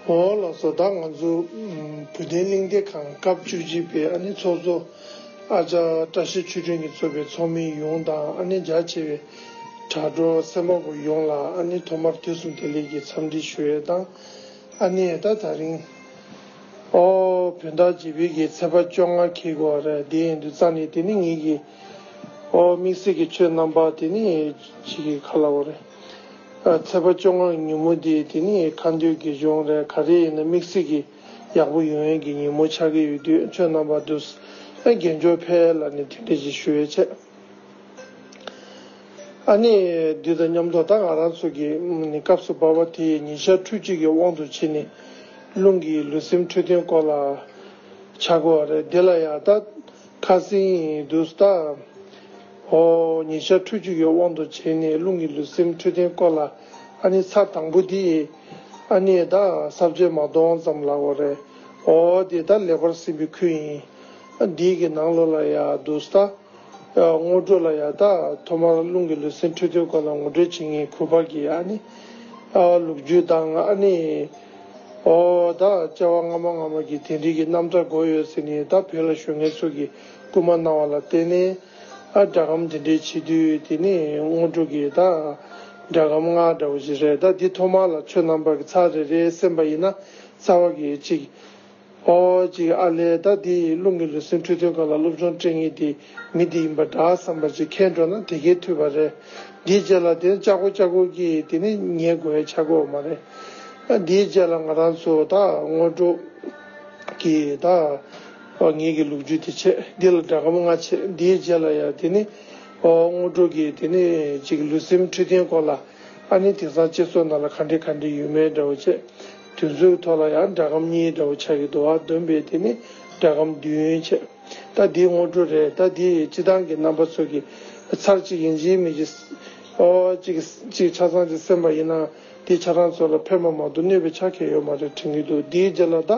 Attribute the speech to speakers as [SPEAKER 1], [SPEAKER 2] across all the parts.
[SPEAKER 1] འོ་ལགས་བཟོ་ལྟ་ང་ཚོ་བོད་བསྟན་གླིང་བདེ་ཁང་སྐབས་བཅུ་གཅིག་པའི་ཨ་ནེ་ཚོགས་གཙོ་ཨ་ཅག་བཀྲ་ཤིས་ཆོས་སྒྲོན་གྱིས་གཙོས་པའི་ཚོགས་མི་ཡོངས་དང་ཨ་ནེ་རྒྱ་ཆེ་བའི་དྲ་གྲོགས་སེམས་པ་པོ་ཡོངས་ལ་ཨ་ནེ་ཐོག་མར་དུས་གསུམ་བདེ་ལེགས་ཀྱི་འཚམས་འདྲི་ཞུ་ཡས་དང་ཨ་ནེ་ད་ད་རིང་ཨོ་བོད་ཟླ་བྱེད་བོད་ཀྱི་ཚེས་པ་བཅོ་ལྔ་ཁེལ་གོ་བ་རེད་དེ་འདུག་ཙང་ནི་དེ་ནི་ངེད་ཀྱི་ཨོ་དམིགས་བསལ་གྱི་ཆོས་རྣམ་པ་དེ་ནི་བྱེད་ཀྱི་ག་ལ་བ་རེད་ཚེས་པ་བཅོ་ལྔ་གི་ཉིན་མོ་དེ་དེ་ནི་ཁ་འདོད་དགེ་སྦྱོང་རེད་ག་རེ་ཡིན་ན་དམིགས་བསལ་གྱི་ཡག་པོ་ཡོང་ཡས་ཀྱི་ཉིན་མོ་ཆགས་ཀྱི་ཡོད་དུས་ཆོས་རྣམ་པ་འདུག་ཨེ་རྒན་ཇོ་ཕལ་ལ་ནི་མཐུན་སྒྲིལ་ཞིག་ཞུ་ཡས་ཆེད། ཨ་ནེ། འདི་དང་མཉམ་དུ་ད་ང་རང་ཚོ་གི་ནི་སྐབས་སུ་བབས་པ་དེ་ཉིན་ཞག་ཁྲུ་གཅིག་གི་དབང་དུ་བྱས་ནས་རླུང་གི་ལུས་སེམས་འཕྲོད་བསྟེན་སྐོར་ལ་བྱ་དགོས་བ་རེད་དེ་ལ་ཡང་ད་ཁ་སིང་འདུག་ཟླ་འོ་ཉིན་ཞག་ཁྲུ་གཅིག་གི་དབང་དུ་བྱས་ནས་རླུང་གི་ལུས་སེམས་འཕྲོད་བསྟེན་སྐོར་ལ་ཨ་ནེ་ཚར་དང་པོ་དེ་ཨ་ནེ་ད་གསར་བརྗེ་མ་གཏོང་ཙམ་ལགས་བ་རེད་འོ་དེ་ད་ལེགས་པར་ཟིན་པའི་ཁུལ་ཡིན་འདི་གི་ནང་ལོ་ལ་ཡང་འདུག་ཟླ། ངོ་སྤྲོད་ལ་ཡང་དག་ཐོག་མར་རླུང་གི་ལུས་སེམས་འཕྲོ་འདུའི་སྐོར་ལ་ངོ་སྤྲོད་བྱེད་ངེས་ཁུལ་བར་གྱི་ཨ་ནི། ལུགས་རྒྱུད་དང་ཨ་ནི། ཨོ། དག་བཅའ་བ་སྔ་མ་སྔ་མ་གྱི་དེ་འབྲེལ་གྱི་རྣམ་གྲངས་འགོད་ཡོད་ཟེར་ནས་ད་བོད་ལ་ཞོན་མཁན་ཚོ་གིས་སྐུལ་མ་གནང་བ་ལ་བརྟེན་ནས། སྒྲ་སྒམ་འདི་འདྲའི་བྱེད་དུས་དེ་ནི་དངོས་གྲུབ་ཀྱི་ད་སྒྲ་སྒམ་ང་འདྲ་བོ་ཞིག་རེད་ད་འདི་ཐོག་མར་ལ་ཆོས་རྣམ་པར་གྱི་ཚ་རེ་རེའི་སེམས་པ་ཡིན་ན་རྩ་བ་གི་གཅིག། ཨོ་ཅེ་ཨ་ལས་ད་དེ་ཡི་རླུང་གི་ལུས་སེམས་འཁྲུལ་དོན་ག་ལ་སློབ་སྦྱོང་སྤྲིང་ཡིག་དེ་མི་འདི་ཡིན་པ་འདྲ་བསམ་པ་ཅིག་ཁེལ་འགྲོ་ན་དེ་གས་འཐུས་པ་རེད། འདིའི་རྗེས་ལ་དོན་ལྕག་གུ་ལྕག་གུ་གིས་དེ་ནི་ཉེས་དགོས་བའི་ཆག་སྒོ་མ་རེད། འདིའི་རྗེས་ལ་ང་རང་ཚོ་ད་དངོས་སྒྲུབ་ཀྱིས་ད་ངེད་ཀྱི་ལུག་རྒྱུད་དེ་ཆད་འདི་ལ་དགྲ་གམ་ལྔ་ཆད་འདིའི་རྗེས་ལ་ཡང་དེ་ནི་དངོས་སྒྲུབ་ཀྱིས་དེ་ནི་ཅིག་ལུས་སེམས་འཁྲུལ་དོན་སྐོར་ལ་ཨ་ནི་དེང་སང་སྤྱི་ཚོགས་ནང་ལ་ག་འདྲི་ག་འདྲི་ཡོད་མེད་འདྲ་བོ་བྱེད། དུས་ཚོད་ཐོག་ལ་ཡང་སྒྲ་སྒམ་གཉིས་འདྲ་བོ་ཆགས་ཀྱི་འདུག་ཨ་བདུན་པས་དེ་ནི་སྒྲ་སྒམ་བདུན་བྱས། ད་འདི་སྔོ་དྲོ་རེད་ད་འདི་སྤྱི་བཏང་གི་རྣམ་པ་ཚོས་ཀྱི། ཚར་གཅིག་གིས་འཇིའི་མི་གྱི། ཨོ། གཅིག་གིས་ཆ་ཚང་གི་སེམས་པ་ཡིན་ནའང་འདི་ཆ་རང་ཚོ་ལ་ཕན་པ་མང་དུ་གནོད་པའི་ཆ་ཁེ་ཡོད་མ་རེད་དྲན་གྱི་འདུག་འདིའི་རྗེས་ལ་ད་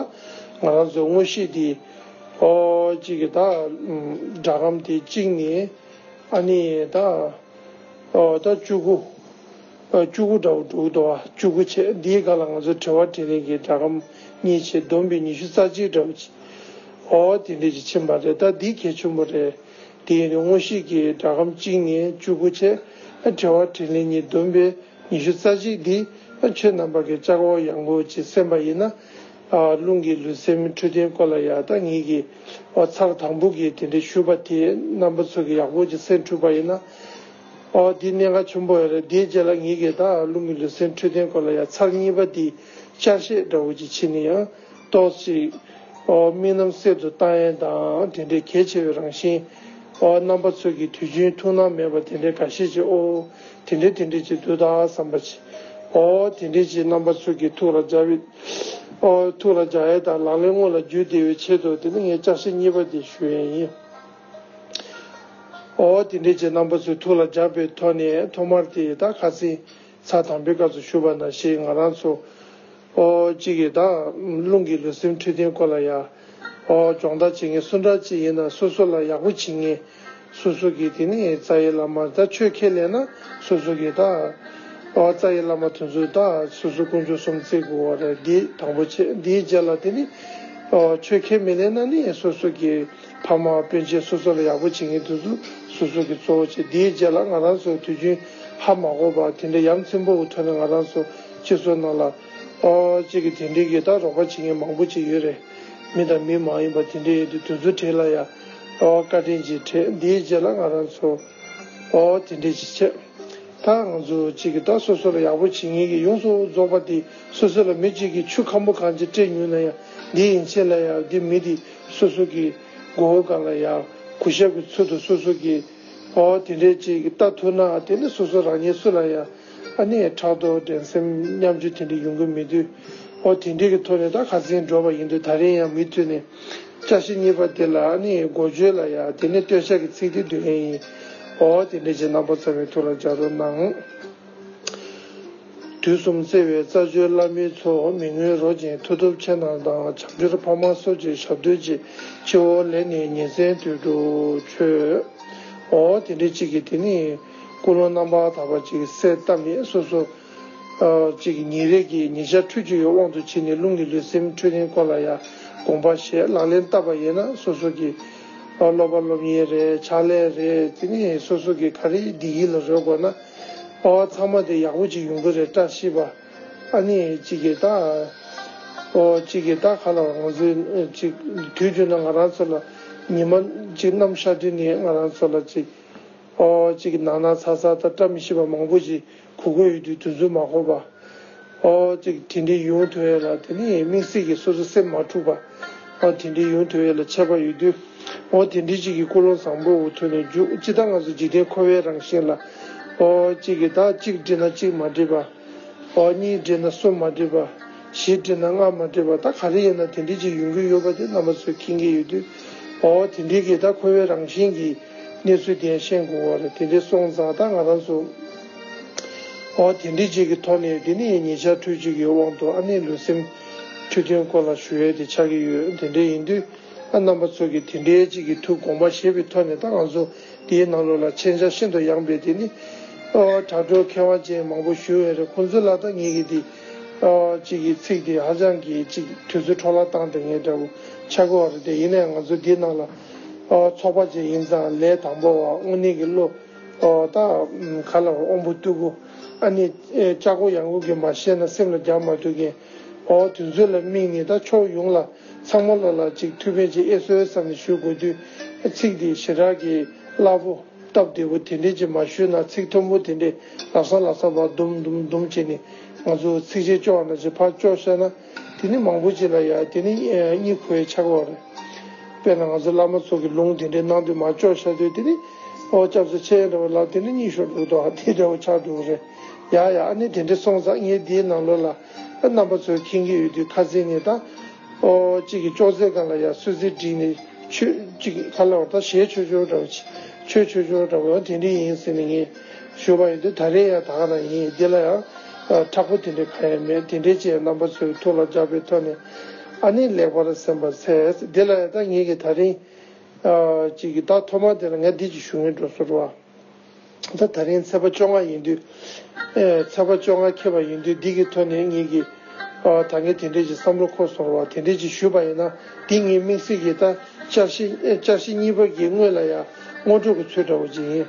[SPEAKER 1] ང་རང་ཚོས་དངོས་གཞི་འདི། ཨོ། གཅིག་གིས་ད། སྒྲ་སྒམ་དེ་གཅིག་ནི། ཨ་ནི་ད། ཨོ། ད་བཅུ་དགུ། བཅུ་དགུ་དགྲ་བོ་དྲུག་དོ་བ་བཅུ་དགུ་བྱས་འདིའི་སྒ་ལ་ང་ཚོ་དྲི་བ་དྲིས་ལན་གྱི་སྒྲ་སྒམ་གཉིས་བྱས་བསྡོམས་པས་ཉི་ཤུ་རྩ་གཅིག་དགྲ་བོ་གཅིག། ཨོ་དེ་འདྲས་ཀྱི་ཕྱིན་པ་རེད་ད་འདི་གལ་ཆུན་པོ་རེད། དེ་ཡིན་ན་དངོས་གཞིས་ཀྱི་སྒྲ་སྒམ་གཅིག་ནས་བཅུ་དགུ་བྱས་དྲི་བ་དྲིས་ལན་གཉིས་བསྡོམས་པས་ཉི་ཤུ་རྩ་གཅིག་འདི་ཆོས་རྣམ་པ་གི་ལྕགས་འོག་ཡངས་པོ་ཅིག་གསན་པ་ཡིན་ན། རླུང་གི་ལུས་སེམས་འཕྲོད་བསྟེན་སྐོར་ལ་ཡང་ད་ངེད་ཀྱི་བ་ཚགས་དང་པོ་གིས་དེ་འདྲས་ཞུས་པ་དེ་རྣམ་པ་ཚོ་གི་ཡག་པོ་ཅིག་གསན་འཁྲུལ་པ་ཡིན་ན། ཨོ་འདི་གནད་འགག་ཆེན་པོ་རེད་དེའི་རྗེས་ལ་ངེད་ཀྱིས་ད་རླུང་གི་ལུས་སེམས་འཕྲོད་བསྟེན་སྐོར་ལ་ཡང་ཚར་གཉིས་པ་དེའི་བསྐྱར་བཤད་འདྲ་བོ་ཅིག་བྱེད་ནི་ཡང་ཏོག་ཅིག་ཨོ་དམིགས་རྣམ་གསེབ་ཏུ་བཏང་ཡན་དང་དེ་འདྲའི་གལ་ཆེ་བའི་རང་བཞིན་ཨོ་རྣམ་པ་ཚོད་ཀྱི་དུས་རྒྱུན་ཐུགས་སྣང་མེད་པ་དེ་འདྲའི་ག་ཤེད་ཅིག་ཨོ་དེ་འདྲའི་དེ་འདྲའི་ཅིག་དུས་ད་བསམ་པ་ཅི་ཨོ་དེ་འདྲའི་ཅིག་རྣམ་པ་ཚོད་ཀྱི་ཐུགས་ལ་འཇགས་ཡོད་ཨོ་ཐུགས་ལ་འཇགས་ཡན་དང་ལག་ལེན་དངོས་ལ་བརྒྱུད་བདེ་བའི་ཆེད་དུ་དེ་ནི་ངས་བསྐྱར་བཤད་གཉིས་པ་དེ་ཞུ་ཡན་ཡིན། ཨོ་དེ་འདྲའི་རྗེ་རྣམ་པ་ཚོའི་ཐུགས་ལ་བརྒྱབ་པའི་ཐོག་ནས་ཐོག་མར་དེ་ད་ག་ཚིག་ཚག་དམ་པའི་སྐབས་སུ་ཞུ་བ་ན་ཞེས་ང་རང་ཚོ་ཨོ་གཅིག་གིས་དང་བླུན་གྱི་ལུས་སེམས་འཁྲུལ་དོན་སྐོར་ལ་ཡང་ཨོ་སྦྱོང་བརྡར་བྱེད་མཁན་སུ་འདྲ་ཅིག་ཡིན་ན་སོ་སོ་ལ་ཡག་པོ་བྱེད་ངེས་སོ་སོ་གིས་དེ་ནས་རྩ་ཡི་བླ་མར་ད་ཆོས་ཁས་ལེན་ན་སོ་སོ་གིས་ད་ཨོ་རྩ་ཡི་བླ་མ་དེ་ཚོས་ད་སོ་སོ་དཀོན་མཆོག་གསུམ་བརྩི་དགོས་བ་རེད་འདི་དང་པོ་ཆེད་འདིའི་རྗེས་ལ་དེ་ནས་ཨོ་ཆོས་ཁས་མི་ལེན་ན་ནི་སོ་སོ་གིས། ཕ་མ་སྤུན་མཆེད་སོ་སོ་ལ་ཡག་པོ་བྱེད་མཁན་དེ་ཚོ་སོ་སོ་གི་གཙོ་བོ་བྱས་དེའི་རྗེས་ལ་ང་རང་ཚོའི་དུས་རྒྱུན་ཧ་མ་གོ་བར་དེ་འདྲ་ཡ་མཚན་པོ་བོ་ཐོན་ན་ང་རང་ཚོ་སྤྱི་ཚོགས་ནང་ལ་ཨོ་ཅེ་གི་དེ་འདྲའི་གི་ད་རོགས་པ་བྱེད་མཁན་མང་པོ་ཅིག་ཡོད་རེད་མི་དང་མི་མ་ཡིན་པ་དེ་འདྲའི་ཡོད་དུས་དུས་ཚོད་དྲན་ལ་ཡ་ཨོ་བཀའ་དྲིན་ཅིག་དྲན་དེའི་རྗེས་ལ་ང་རང་ཚོ་ཨོ་དེ་འདྲའི་ཅིག་བྱས་ད་ང་ཚོ་ཅིག་གི་ད་སོ་སོ་ལ་ཡག་པོ་བྱེད་མཁན་གི་ཡོངས་སུ་རྫོགས་པ་དེ་སོ་སོ་ལ་མི་གཅིག་གི་ཆུ་ཁམ་པོ་གང་ཅིག་སྤྲད་ཉུལ་ན་ཡ་འདི་ཡིན་ཕྱིན་ལ་ཡ་འདི་མི་འདི། སོ་སོ་ཀྱིས་མགོ་བོ་གང་ལ་ཡང་གུ་ཞབས་ཀྱི་ཚུལ་དུ་སོ་སོ་ཀྱིས་ཨོ་དེ་འདྲས་ཅིག་བལྟ་ཐུབ་ན་དེ་ནི་སོ་སོ་རང་ཉིད་སུ་ལ་ཡང་ཨ་ནེ་ཕྲག་དོག་འགྲན་སེམས་མཉམ་སྤྱོད་དེ་འདྲས་ཡོང་གི་མི་འདུག་ཨོ་དེ་འདྲས་ཀྱི་ཐོག་ནས་ད་ག་ཟིན་འགྲོ་བ་ཡིན་འདུག་ད་རིང་ཡང་མི་མཐུད་ནས་སྐྱ་ཤེས་གཉིས་པ་དེ་ལ་ཨ་ནེ་ཡི་མགོ་བརྗོད་ལ་ཡང་དེ་ནི་སྟོད་ཆ་གི་ཚིག་སྟེ་བདུད་ལན་ཡིན་ཨོ་དེ་འདྲས་ཅིག་རྣམ་པ་ཚ་བའི་ཐུགས་ལ་འཇགས་རོགས་གནང། དུས་གསུམ་བརྩེ་བའི་རྩ་བརྒྱུད་བླ་མའི་ཚོགས་མི་ངོས་རོ་ཅན་མཐུ་སྟོབས་ཆེ་རྣམས་དང་བྱང་ཤར་འཕགས་མ་སོགས་ཀྱི་ཞབས་བསྟོད་ཀྱི་སྤྱི་བོ་ལས་ནི་ཉིན་མཚན་དུས་དྲུག་མཆོད། འོ་དེ་འདྲའི་གཅིག་གིས་དེ་ནི་སྐུ་ལོ་རྣམ་པར་དག་པ་ཅིག་གསལ་བཏབ་མེད་སོ་སོ། ཅིག་ཉིན་རེ་གིས་ཉི་ཤར་འཕྲོས་ཆུ་ཡི་དབང་དུ་བྱས་ནས་རླུང་གི་ལུས་སེམས་འཕྲོས་ལྡན་སྐོར་ལ་ཡང་དགོངས་པ་ཞེས་ལག་ལེན་བསྟར་བ་ཡིན་ན་སོ་སོ་གིས། སློབ་པ་སློབ་གཉེར་རེ་ཆག་ལེ་རེ་དེ་ནི་སོ་སོ་གིས་ག་རེ་བདེ་སྐྱིད་ལ་རོལ་དགོས་ན། པ་བ་ཚང་མ་དེ་ཡག་པོ་ཅིག་ཡོང་གི་རེད་བཀྲ་ཤིས་པ་ཨ་ནི་ཅི་གི་ད་ཨོ་ཅི་གི་ད་ག་ལ་བ་ང་ཚོས་ཅིག་དུས་རྒྱུན་ན་ང་རང་ཚོ་ལ་ཉི་མ་ཅིག་ནམ་ཤར་དུས་ནས་ང་རང་ཚོ་ལ་ཅིག་ཨོ་ཅི་གི་ནག་ནག་ཚ་ཚ་ད་བཀྲ་མི་ཤིས་པ་མང་པོ་ཞིག་གོ་དགོས་ཡོད་དུས་དུས་ཚོད་མ་འགོར་པ། ཨོ། དེ་འདྲའི་ཡུན་ཐུང་ཡོད་ལ་དེ་ནི་དམིགས་བསལ་གྱིས་སོ་སོའི་སེམས་མ་འཁྲུགས་པ། ཨོ། དེ་འདྲའི་ཡུན་ཐུང་ཡོད་ལ་ཆད་པ་ཡོད་དུས། ཨོ། དེ་འདྲའི་ཅིག་གིས་ཀུན་སློང་བཟང་པོ་འུ་ཐུག་ནས་རྒྱུག། ཅི་ལྟར་ང་ཚོ་འཇིག་རྟེན་འཁོར་བའི་རང་བཞིན་ལ། ཨོ། གཅིག་གིས་དག་གཅིག་བསྒྲིབས་ན་གཅིག་མ་འགྲིབ་པ། ཨོ། གཉིས་བསྒྲིབས་ན་གསུམ་མ་འགྲིབ་པ། བཞི་བསྒྲིབས་ན་ལྔ་མ་འགྲིབ་པ་ད་ག་རེ་ཡིན་ན་དེ་འདྲའི་ཅིག་ཡོང་གི་ཡོད་པ་དེ་རྣམ་པ་ཚོས་མཁྱེན་གྱི་ཡོད་དུས། ཨོ། དེ་འདྲའི་གིས་དག་འཁོར་བའི་རང་བཞིན་གྱི་གནས་ཚུལ་དེ་ཡང་ཤེས་དགོས་བར་དེ་འདྲའི་སོང་ཙང་དག་ང་རང་ཚོ། ཨོ་དེ་འདྲི་གཅིག་གི་ཐོག་ནས་འདི་ནི་ཉེ་ཆར་དུས་གཅིག་གི་དབང་དུ་ཨ་ནེ་ལུས་སེམས་འཁྲུལ་དོན་སྐོར་ལ་ཞུ་ཡས་དེ་ཆགས་ཀྱི་ཡོད་དེ་འདྲའི་ཡིན་དུས་ཨ་རྣམ་པ་ཚོ་གིས་དེ་འདྲའི་གཅིག་གི་ཐུགས་དགོངས་པ་ཞེས་པའི་ཐོག་ནས་ད་ང་ཚོ་འདིའི་ནང་ལོགས་ལ་མཆན་ཆ་ཤིན་ཏུ་ཡང་སྤེལ་དེ་ནི་ཨོ་དྲ་གྲོགས་མཁས་དབང་ཅན་མང་པོ་ཞུ་ཡས་རེད་ཁོང་ཚོ་ལ་ད་ངེད་ཀྱིས་འདི་ཨོ་གཅིག་གི་ཚིག་དེ་ཧ་ཅང་གི་གཅིག་དུས་ཚོད་འཕྲོ་བརླག་བཏང་དེ་ངས་འདྲ་པོ་ཆགས་དགོས་བ་རེད་དེ་ཡིན་ནའི་ང་ཚོ་འདིའི་ནང་ལ་ཨོ་ཚོགས་པ་ཅན་ཡིན་ཙང་ལས་དང་པོ་བ་དངོས་གནས་ཀྱི་བློ། ད་ག་ལ་འོང་བུ་སྟུ་གུ། ཨ་ནི། ལྕགས་སྒོ་ཡང་ཀུན་གྱིས་མ་ཤེས་ན་སེམས་ལ་རྒྱག་མ་ཐུབ་ཀིན། ཨོ། དུས་ཚོད་ལ་དམིགས་ནས་ད་ཕྱོགས་ཡོང་ལ། ཚང་མ་ལོ་ལ་ཅིག་ཐུགས་ཕན་ཅིག་ཨེ་སོལ་བསམ་ནས་ཞུ་དགོས་དུས། ཚིག་འདི་ཞེ་དྲག་གིས་བསླབ་བོ། སྟབས་བདེ་བོ་དེ་འདྲས་ཅིག་མ་ཞུས་ན་ཚིག་མཐོན་པོ་དེ་འདྲས་ལབ་སང་ལབ་སང་བར་དུམ་དུམ་དུམ་བྱས་ནས་ང་ཚོས་ཚིག་གཞན་སྤྱོ་བ་ན་ཅིག་ཕར་སྤྱོ་བཤད་ན། དེ་ནི་མང་པོ་བྱས་ལ་ཡང་དེ་ནི་གཉིས་ཁོའི་ཆགས་པ་རེད། དཔེར་ན་ང་ཚོ་བླ་མ་ཚོ་གི་ལུང་དེ་འདྲའི་ནང་དུ་མ་ལྕོགས་ཤ་དོད་དེ་ནི་ཨོ་སྐྱབས་སུ་ཆེ་འདྲ་བ་ལབ་དེ་ནི་གཉིས་ཤོར་འདུག་དོ་ཧ་དེ་འདྲ་བོ་ཆགས་འདུག་རེད་ཡ་ཡ་ཨ་ནི་དེ་འདྲ་སོང་ཙང་ངས་འདིའི་ནང་ལོགས་ལ་རྣམ་པ་ཚོ་ཁེངས་ཀྱི་ཡོད་དུས་ཁ་ཟས་ནས་དང་པོ་གཅིག་གིས་ཅོག་ཙེ་སྒང་ལ་ཡར་སོད་ཟིར་བསྒྲིགས་ནས་ཆོས་གཅིག་ག་ལ་བ་དང་ཞེས་ཆོས་ཆོས་འདྲ་བོ་ཆོས་ཆོས་ཆོས་འདྲ་བོ་ཡང་དེ་འདྲའི་ཡིན་ཟེར་ནས་ངས། ཞུ་བ་ཡིན་དུས་ད་རེས་ཡང་དག་ན་ཡིན་འདི་ལ་ཡང་དྲག་པོ་དེ་འདྲའི་གང་ཡང་མེད་དེ་འདྲའི་ཅན་རྣམ་པ་ཚོའི་ཐུགས་ལ་འཇགས་པའི་ཐོག་ནས་ཨ་ནི་ལེགས་པར་སེམས་པར་འཚལ། འདི་ལ་ཡང་ད་ངེད་ཀྱིས་ད་རིང་གཅིག་གི་ཟླ་ཐོག་མ་དེ་ལ་ངས་འདི་ཅིག་ཞུ་ངེས་འགྲོ་ཚོར་བ། ད་ད་རིང་ཚེས་པ་བཅོ་ལྔ་ཡིན་དུས། ཚེས་པ་བཅོ་ལྔ་ཁེལ་བ་ཡིན་དུས་འདི་གི་ཐོག་ནས་ངེད་ཀྱིས་ད་ངས་དེ་འདྲའི་ཅིག་བསམ་བློ་འཁོར་སོང་བ་དེ་འདྲའི་ཅིག་ཞུས་པ་ཡིན་ན་འདི་ངའི་མིག་ཟེར་གྱི་ད་བཅར་བཞི་གཉིས་པ་གྱི་དངུལ་ལ་ཡང་སྔོ་འགྲོ་གི་ཚུལ་འདྲ་བོ་ཅིག་ཡིན།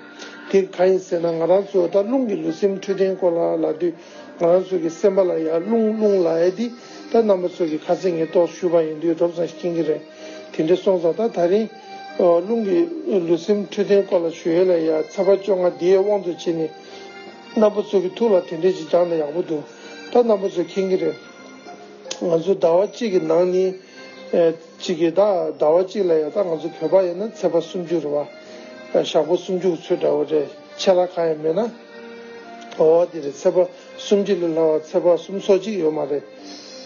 [SPEAKER 1] དེ་གང་ཡིན་ཟེར་ན་ང་རང་ཚོ་ད་རླུང་གི་ལུས་སེམས་འཕྲོད་བསྟེན་སྐོར་ལ་ལབ་དུས་ང་རང་ཚོ་གི་སེམས་པ་ལ་ཡར་རླུང་རླུང་ལ་ཨེ་འདི་ད་རྣམ་པ་ཚོ་གི་ཁ་ཚིག་ངེས་རྟོགས་ཞུས་པ་ཡིན་དུས་སྒྲོབ་ཙང་ཞིག་སྐྱེ་གི་རེད་དེ་འདྲས་སོང་ཙང་ད་ད་རིང་རླུང་གི་ལུས་སེམས་འཕྲོད་བསྟེན་སྐོར་ལ་ཞུ་ཡས་ལ་ཡར་ཚ་བ་བཅོ་ལྔ་དེའི་དབང་དུ་བྱས་ནས་རྣམ་པ་ཚོ་གི་ཐུགས་ལ་དེ་འདྲས་ཅིག་བཅངས་ན་ཡག་པོ་འདུག་ད་རྣམ་པ་ཚོ་མཁྱེན་གི་རེད་ང་ཚོ་ཟླ་བ་གཅིག་གི་ནང་ནི། གཅིག་གིས་ད་ཟླ་བ་གཅིག་ལ་ཡོད་ད་ང་ཚོ་བོད་པ་ཡིན་ན་ཚེ་པ་སུམ་ཅུ་རེད་བ། ཞག་པོ་སུམ་ཅུ་གི་ཚུལ་འདྲ་བོ་རེད་ཆད་ལ་གང་ཡང་མེད་ན། འོ་བ་དེ་རེད་ཚེ་པ་སུམ་ཅུ་ལས་ལྷག་བ་ཚེ་པ་སུམ་སོ་གཅིག་ཡོད་མ་རེད།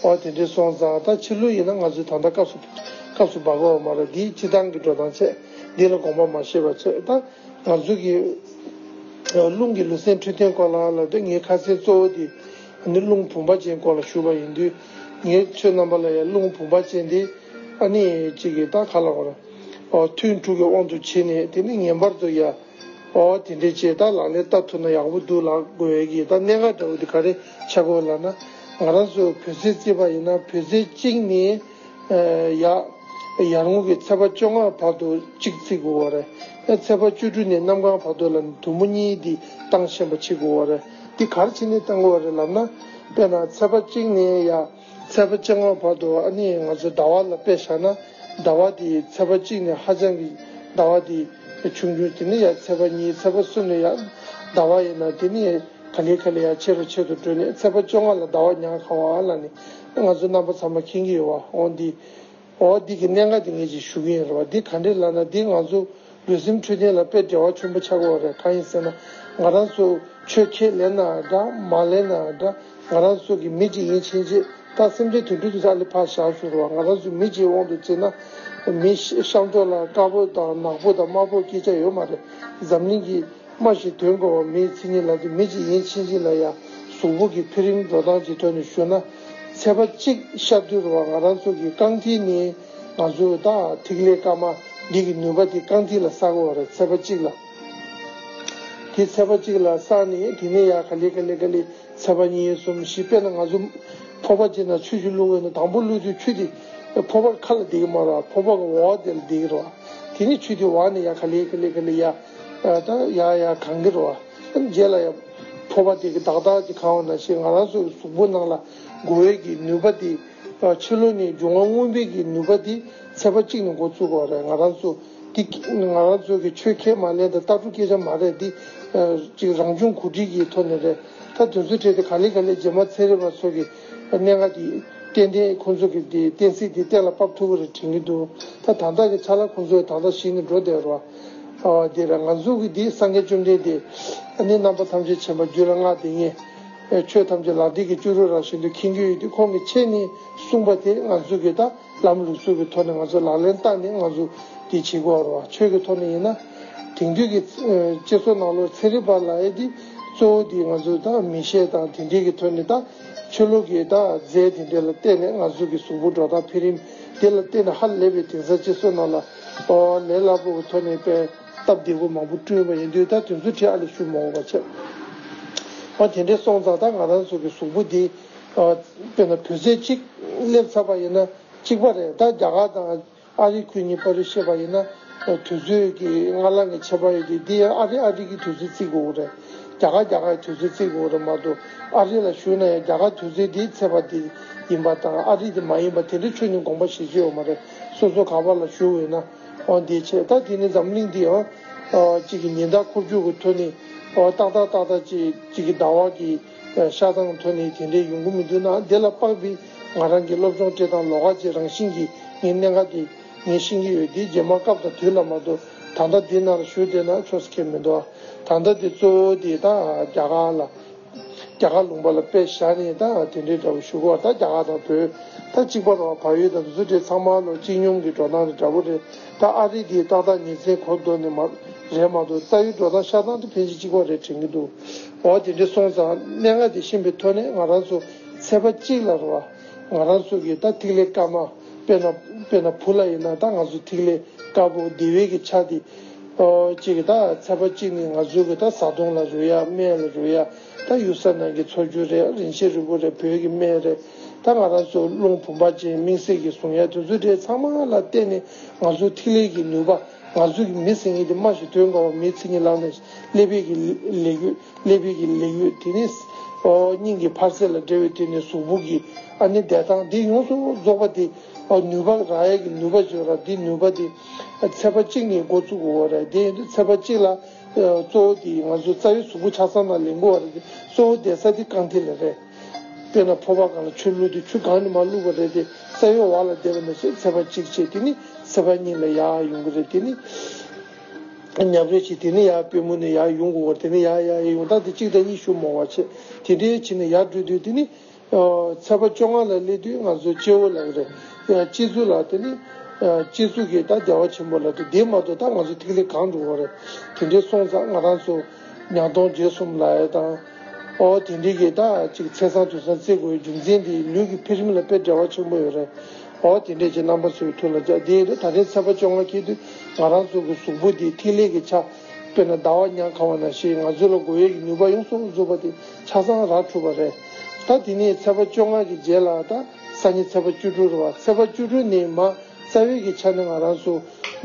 [SPEAKER 1] འོ་དེ་འདྲས་སོང་ཙང་ད་ཕྱི་ལོ་ཡིན་ན་ང་ཚོའི་ད་ལྟ་སྐབས་སྐབས་སུ་འབབ་འོ་མ་རེད་འདིའི་སྤྱི་བཏང་གི་འགྲོ་སྟངས་ཆད་འདི་ལ་དགོངས་པ་མ་བཞེས་པ་ཆད་ད་ང་ཚོ་གི། རླུང་གི་ལུས་སེམས་འཕྲོད་བསྟེན་སྐོར་ལ་ལབ་དུས་ངའི་ཁ་ཟས་གཙོ་བོ་དེ་ནི་རླུང་བུམ་པ་ཅན་སྐོར་ལ་ཞུ་བ་ཡིན་དུས། ངའི་ཚོད་རྣམ་པ་ལ་ཡང་རླུང་བུམ་པ་ཅན་དེ་ཨ་ནི་ཅིག་གིས་ད་ག་ལ་བར། ཐུན་དྲུག་གི་དབང་དུ་བྱས་ནས་དེ་ནི་ངན་པར་དུ་ཡ། དེ་འདྲའི་ཆེད་ད་ལག་ལེན་ལྟ་ཐུབ་ན་ཡག་པོ་འདུག་ལགས་དགོས་ཀྱི་ད་གནད་འགག་འདྲ་བོ་དེ་ག་རེ་ཆགས་དགོས་ལགས་ན། ང་རང་ཚོ་བོད་ཟས་རྩིས་པ་ཡིན་ན་བོད་ཟས་གཅིག་ནས་ཡ། ཡར་ངོ་གི་ཚེས་པ་བཅོ་ལྔ་བར་དུ་གཅིག་རྩི་དགོས་བ་རེད། ཚེས་པ་བཅོ་དྲུག་ནས་གནམ་གང་བར་དུ་ལ་དུམ་བུ་གཉིས་འདི་བཏང་ཤན་པ་བྱེད་དགོས་བ་རེད། འདི་གར་ཕྱི་ནས་བཏང་གི་བ་རེད་ལབ་ན། དཔེར་ན་ཚལ་པ་གཅིག་ནས་ཡ་ཚལ་པ་གཅིག་ངོ་བར་དུ་ཨ་ནི་ང་ཚོ་ཟླ་བ་ལ་དཔེ་བཞག་ན། ཟླ་བ་དེ་ཚལ་པ་གཅིག་ནས་ཧ་ཅང་གི་ཟླ་བ་དེ་ཆུང་ཆུང་དེ་ནས་ཡ་ཚལ་པ་གཉིས་ཚལ་པ་གསུམ་ནས་ཡ་ཟླ་བ་ཡིན་ན་དེ་ནས་ག་ལེ་ག་ལེ་ཡ་ཆེ་རུ་ཆེ་དུ་འགྲོས་ནས་ཚལ་པ་བཅོ་ལྔ་ལ་ཟླ་བ་ཉག་གང་བ་ལ་ནི་ང་ཚོ་རྣམ་པ་ཚང་མ་མཁྱེན་གི་ཡོད་བ་འོང་འདི། འོ་འདི་གི་གནད་འགག་འདི་ངེད་ཀྱིས་ཞུ་གི་ཡིན་རེད་བ་འདི་ག་འདྲའི་ལ་ན་འདི་ང་ཚོ་ལུས་སེམས་འཕྲོད་བསྟེན་ལ་དཔེ་བྲལ་བ་ཆེན་པོ་ཆགས་དགོས་བ་རེད་གང་ཡིན་ཟེར་ན་ང་རང་ཚོ་ཆོས་ཁས་ལེན་ན་འདྲ་མ་ལེན་ན་འདྲ་ང་རང་ཚོ་གི་མི་གཅིག་ཡིན་ཕྱིན་ཆད་ད་སེམས་ཅན་དུད་འགྲོ་དུད་ཧྲག་ལས་ཕར་བཞག་ཞུ་རེད་བ་ང་རང་ཚོ་མི་གཅིག་དབང་དུ་བཙིར་ན་མི་གཤམ་ཕྱོགས་ལ་དཀར་པོ་དང་ནག་པོ་དང་དམར་པོ་སྐྱེ་ཆ་ཡོད་མ་རེད་འཛམ་གླིང་གི། སྨྲ་ཞིག་དོན་གོ་བ་མིའི་མཚན་ཉིད་ལ་དེ་མི་གཅིག་ཡིན་ཕྱིན་ཅི་ལ་ཡང་གཟུགས་པོ་གི་འཕེལ་རིམ་འགྲོ་སྟངས་ཀྱི་ཐོག་ནས་ཞུ་ན། ཚེས་པ་གཅིག་ཤར་དུས་རུ་བ་ང་རང་ཚོ་གི་རྐང་མཐིལ་ནི་ང་ཚོའི་ད་ཐིག་ལེ་དཀར་མ་འདི་གི་ནུས་པ་དེ་རྐང་མཐིལ་ལ་བསགས་གོ་བ་རེད་ཚེས་པ་གཅིག་ལ། དེ་ཚེས་པ་གཅིག་ལ་བསགས་ནས་དེ་ནས་ཡར་ག་ལེ་ག་ལེ་ག་ལེ་ཚེས་པ་གཉིས་གསུམ་བཞི་དཔེར་ན་ང་ཚོ་ཕོར་པ་གཅིག་ནང་ཆུ་བཞི་བླུག་འོ་ན་དང་པོ་བླུག་དུས་ཆུ་དེ་ཕོར་པར་ཁ་ལ་འདེགས་མ་རུ་བ་ཕོར་པ་གི་འོག་དེ་ལ་འདེགས་རུ་བ་དེ་ནས་ཆུ་དེ་འོག་ནས་ཡར་ག་ལེ་ག་ལེ་ག་ལེ་ཡར། ད་ཡ་ཡ་གང་གི་རོ་བ། རྗེས་ལ་ཡང། ཕོ་བ་དེ་གི་བདག་བདག་ཅི་གང་བ་ན་ཞེས་ང་རང་སོ་ཡི་གཟུགས་པོ་ནང་ལ་འགོ་བའི་གི་ནུས་པ་དེ། ཕྱི་ལོ་ནས་འབྱུང་བ་མངོན་པའི་གི་ནུས་པ་དེ་ཚད་པ་གཅིག་ནས་འགོ་ཚུགས་པ་རེད་ང་རང་ཚོ། དེ་ང་རང་ཚོ་གི་ཆོས་ཁས་མ་ལེན་དང་ལྟ་གྲུབ་སྐད་ཆ་མ་རེད་འདི། ཅིག་རང་བྱུང་གོ་སྒྲིག་གི་ཐོག་ནས་རེད། ད་དུས་ཚོད་འཕྲད་དེ་ག་ལེ་ག་ལེ་རྗེས་མ་ཚན་རིག་པ་ཚོ་གི་གནད་འགག་དེ། ཏན་ཏན་ཁོང་ཚོ་གི་དེ་གཏན་ཚིགས་དེ་གཏན་ལ་དཔབ་ཐུབ་པ་རེད་དྲན་གི་འདུག་ད་དང་ཐག་གི་ཆ་ལ་ཁོང་ཚོ་ཡང་དང་དག་ཞིག་ནས་འགྲོ་བསྡད་རོ། དེ་ལ་ང་གཟུགས་ཀྱི་དེའི་སངས་རྒྱས་བཅོམ་ལྡན་འདས་ནི་རྣམ་པ་ཐམས་ཅད་མཁྱེན་པ་རྒྱུད་ལ་སྔགས་འདི་ཉིད་ཆོས་ཐམས་ཅད་ལག་མཐིལ་གྱི་ལྕུ་རུ་ར་བཞིན་དུ་མཁྱེན་རྒྱུ་ཡོད་དེ་ཁོང་གི་ཆེད་ནི་གསུངས་པ་དེ་ང་གཟུགས་ཀྱི་ད་ལམ་ལུགས་གཟུགས་ཀྱི་ཐོག་ནས་ང་ཚོ་ལག་ལེན་བསྟར་ནས་ང་གཟུགས་འདི་བྱེད་དགོས་བར་བ་ཆོས་ཀྱི་ཐོག་ནས་ཡིན་ན་དེང་དུས་ཀྱི་སྤྱི་ཚོགས་ནང་ལོར་ཚན་རིག་པ་ལ་ཡེ་འདི་གཙོ་བོ་འདི་ང་ཚོས་ད་མི་ཤེས་དང་དེ་འདྲས་ཀྱི་ཐོད་ནས་ད་ཆོས་ལུགས་ཀྱི་ད་རྫས་དེ་འདྲས་ལ་བརྟེན་ནས་ང་གཟུགས་ཀྱི་གཟུགས་པོ་འགྲོ་སྟངས་འཕེལ་རིམ་དེ་ལ་བརྟེན་ནས་ཧ་ལས་པའི་དེང་སང་སྤྱི་ཚོགས་ནང་ལ། པ་བ་ལས་སླ་པོ་གི་ཐོག་ནས་པས་སྟབས་བདེ་བོ་མང་པོ་བསྐྲུན་པ་ཡིན་དུས་ད་དུས་ཚོད་ཁྲི་ཨ་ལས་ཤུ་མོག་བ་ཆད། འོ་དེ་འདྲའི་སོང་ཙང་ད་ང་རང་ཚོ་གི་གཟུགས་པོ་འདི། དཔེར་ན་བོད་ཟས་གཅིག་སླེབས་ཚར་པ་ཡིན་ན་གཅིག་པ་རེད་ད་རྒྱ་གར་དང་ཨ་རི་ཁུལ་གཉིས་པ་རེད་ཤེས་པ་ཡིན་ན་དུས་ཚོད་ཀྱི་སྔ་ལང་གི་ཆད་པ་ཡོད་དུས་འདི་ཡང་ཨ་རི་ཨ་རི་གི་དུས་ཚོད་རྩིས་དགོས་གི་རེད་རྒྱ་གར་རྒྱ་གར་གི་དུས་ཚོད་རྩིས་དགོས་གི་རེད་མ་གཏོགས་ཨ་རི་ལ་ཞུ་ན་ཡང་རྒྱ་གར་དུས་ཚོད་འདི་ཚེས་པ་འདི་ཡིན་པ་དང་ཨ་རི་འདི་མ་ཡིན་པ་དེ་འདྲའི་ཆོས་ཉིད་དགོངས་པ་བཞེས་རྒྱུ་ཡོད་མ་རེད། སོ་སོ་ག་པ་ལ་ཞུ་འོས་ན་འང་དེ་བྱས་ད་དེ་ནི་འཛམ་གླིང་འདི་འང་གཅིག་གི་ཉི་ཟླ་འཁོར་རྒྱུག་གི་ཐོ་ནི་ཏག་ཏག་ཏག་ཏག་གཅིག་གི་ཟླ་བ་གི་ཤ་ཐང་ཐོ་ནི་དེ་འདྲའི་ཡོང་གི་མི་འདུག་ན་དེ་ལ་དཔག་པའི་ང་རང་གི་སློབ་སྦྱོང་བཀྲེས་དང་ལོ་ཁ་ཅིག་རང་བཞིན་གྱིས་ངའི་གནད་འགག་དེ་ངས་ཤེས་ཀྱི་ཡོད་དེ་རྗེས་མ་སྐབས་དང་དུས་ལ་མ་ལྟོས་ད་ལྟ་འདི་ན་ལ་ཞུ་བསྡད་ན་ཆོག་ས་ཁེལ་མི་འདུག་ཨ་ད་ལྟ་དེ་གཙོ་བོ་དེ་ད་རྒྱ་གར་ལ་རྒྱ་གར་ལུང་པ་ལ་དཔེ་བཞག་ནས་ད་དེ་འདྲའི་འདྲ་པོ་ཞུ་གོ་ད་རྒྱ་གར་དང་བོད་ད་གཅིག་པ་རོ་བག་ཡོད་དམ་ཟུ་དེ་ཚང་མ་ལོ་གཅིག་སྙོམ་གི་འགྲོ་སྟངས་རེད་འདྲ་པོ་རེད་ད་ཨ་རི་དེའི་ཏག་ཏག་ཉིན་མཚན་གོ་འདོད་ནི་མ་རེད་མ་གཏོགས་རྩ་ཡུལ་འགྲོ་སྟངས་ཤ་སྟངས་དེ་ཕན་ཅི་གཅིག་པ་རེད་དྲན་གི་འདུག་འོ་དེ་འདྲའི་སོང་ཙང་གནད་ལྔ་དེ་ཤེས་པའི་ཐོག་ནས་ང་རང་ཚོ་ཚེ་པ་གཅིག་ལ་རོ་བ་ང་རང་ཚོ་གི་ད་ཐིག་ལེ་དཀར་མ་དཔེ་ན་དཔེ་ན་བུ་ལ་ཡིན་ན་ད་ང་ཚོ་ཐིག་ལེ་དཀར་པོ་བདེ་བས་གི་ཆ་དེ། གཅིག་གི་དང་ཚད་པ་གཅིག་ནི་ང་ཚོའི་གི་དང་ཟ་འཐུང་ལ་རོལ་ཡ་སྨན་ལ་རོལ་ཡ་ད་ཡུལ་ས་ནང་གི་འཚོ་རྒྱུ་རེད་རིན་ཆེན་རི་བོ་རེད་བོད་གི་སྨན་རེད་ད་ང་རང་ཚོའི་རླུང་བུ་འབར་ཅན་མིང་སྲིང་གི་ཟུངས་ཡ་དེ་ཚོ་རེད་ཚང་མ་ལ་བརྟེན་ནས་ང་ཚོའི་ཐིག་ལེ་གི་ནུས་པ་ང་ཚོ་གི་མི་ཚེ་གཉིས་དེ་མ་ཞིག་དོན་གང་བ་མིའི་ཚེ་གཉིས་བླངས་ནས་ཀླད་པའི་གི་ལས་གཡོས་ཀླད་པའི་གི་ལས་གཡོས་དེ་ནས་སྙིང་གི་འཕར་ཚད་ལ་འབྲེལ་བའི་དེ་ནས་གཟུགས་པོ་གི་ཨ་ནི་བདེ་ཐང་དེ་ཡོངས་སུ་རྫོགས་པ་དེ་ནུས་པ་རང་ཡལ་གི་ནུས་པ་བརྗོད་ར་དེ་ནུས་པ་དེ། ཚད་པ་གཅིག་ནས་འགོ་བཙུགས་འོ་རེད་དེ་ཚད་པ་གཅིག་ལ། གཙོ་བོ་དེ་ང་ཚོ་རྩ་བའི་གཟུགས་པོ་ཆ་ཚང་དང་ལེན་དགོས་བ་རེད་དེ་གཙོ་བོ་དེ་ས་དེ་རྐང་ཐིག་ལེ་རེད། དཔེར་ན་ཕོར་པ་གང་ལ་ཆུ་བླུགས་དེ་ཆུ་གང་ནས་མ་བླུགས་པ་རེད་དེ་ས་གཡོ་བ་ལ་བསྡད་པ་ནས་བཟུང་ཚད་པ་གཅིག་བྱས་དེ་ནི་ཚད་པ་གཉིས་ལ་ཡག་ཡོང་གི་རེད་དེ་ནི། ཉམས་རེ་བྱས་དེ་ནི་ཡག་དཔེ་མོ་ནས་ཡག་ཡོང་དགོས་བ་རེད་དེ་ནི་ཡག་ཡག་ཡོང་སྟངས་དེ་གཅིག་དང་གཉིས་ཞུ་མོང་བ་བྱས་དེ་འདྲའི་བྱས་ནས་ཡག་བསྒྲུབ་དུས་དེ་ནི། ཚེས་པ་བཅོ་ལྔ་ལ་སླེབས་དུས་ང་ཚོའི་སྐྱེ་བོ་ལགས། སྐྱེ་གཟུགས་ལགས་དེ་ནི། སྐྱེ་གཟུགས་ཀྱིས་ད་བདེ་བ་ཆེན་པོ་ལགས་འདི་མ་གཏོགས་ད་ང་ཚོ་ཐིག་ལེ་གང་འགྲོ་བ་རེད། དེ་འདྲའི་སོང་ཙང་ང་རང་ཚོ། ཉག་སྟོང་བརྒྱད་གསུམ་ལ་ཡོད་དང། ཨོ་དེ་འདྲས་ཀྱིས་ད་ཅིག་ཚེས་སང་དུས་སང་ཚེས་དགུ་བའི་རྒྱུ་མཚན་དེ་ལུས་ཀྱི་འཕེལ་རིམ་ལ་དཔེ་འདྲ་བ་ཆེན་པོ་ཡོད་རེད། ཨོ་དེ་འདྲས་ཀྱིས་རྣམ་པ་ཚོའི་ཐུགས་ལ་འཇགས་དེ་ཡིན་ན་ད་ལྟའི་ཚེས་པ་བཅོ་ལྔ་སྐྱེས་དུས་ང་རང་ཚོ་གི་གཟུགས་པོ་འདི་ཐིག་ལེ་གྱི་ཆ། དཔེར་ན་ཟླ་བ་ཉག་གང་བ་ན་ཞེས་ང་ཚོས་ལ་སྒོ་དབྱེ་གི་ནུས་པ་ཡོངས་སུ་རྫོགས་པ་དེ་ཆ་ཚང་རག་ཐུབ་པ་རེད། ད་དེ་ནས་ཚེས་པ་བཅོ་ལྔ་གི་རྗེས་ལ་ད་ས་ཉིན་ཚེས་པ་བཅུ་དྲུག་རེད་བ་ཚེས་པ་བཅུ་དྲུག་ནས་མ་རྩ་བའི་གི་ཆ་ནས་ང་རང་སུ་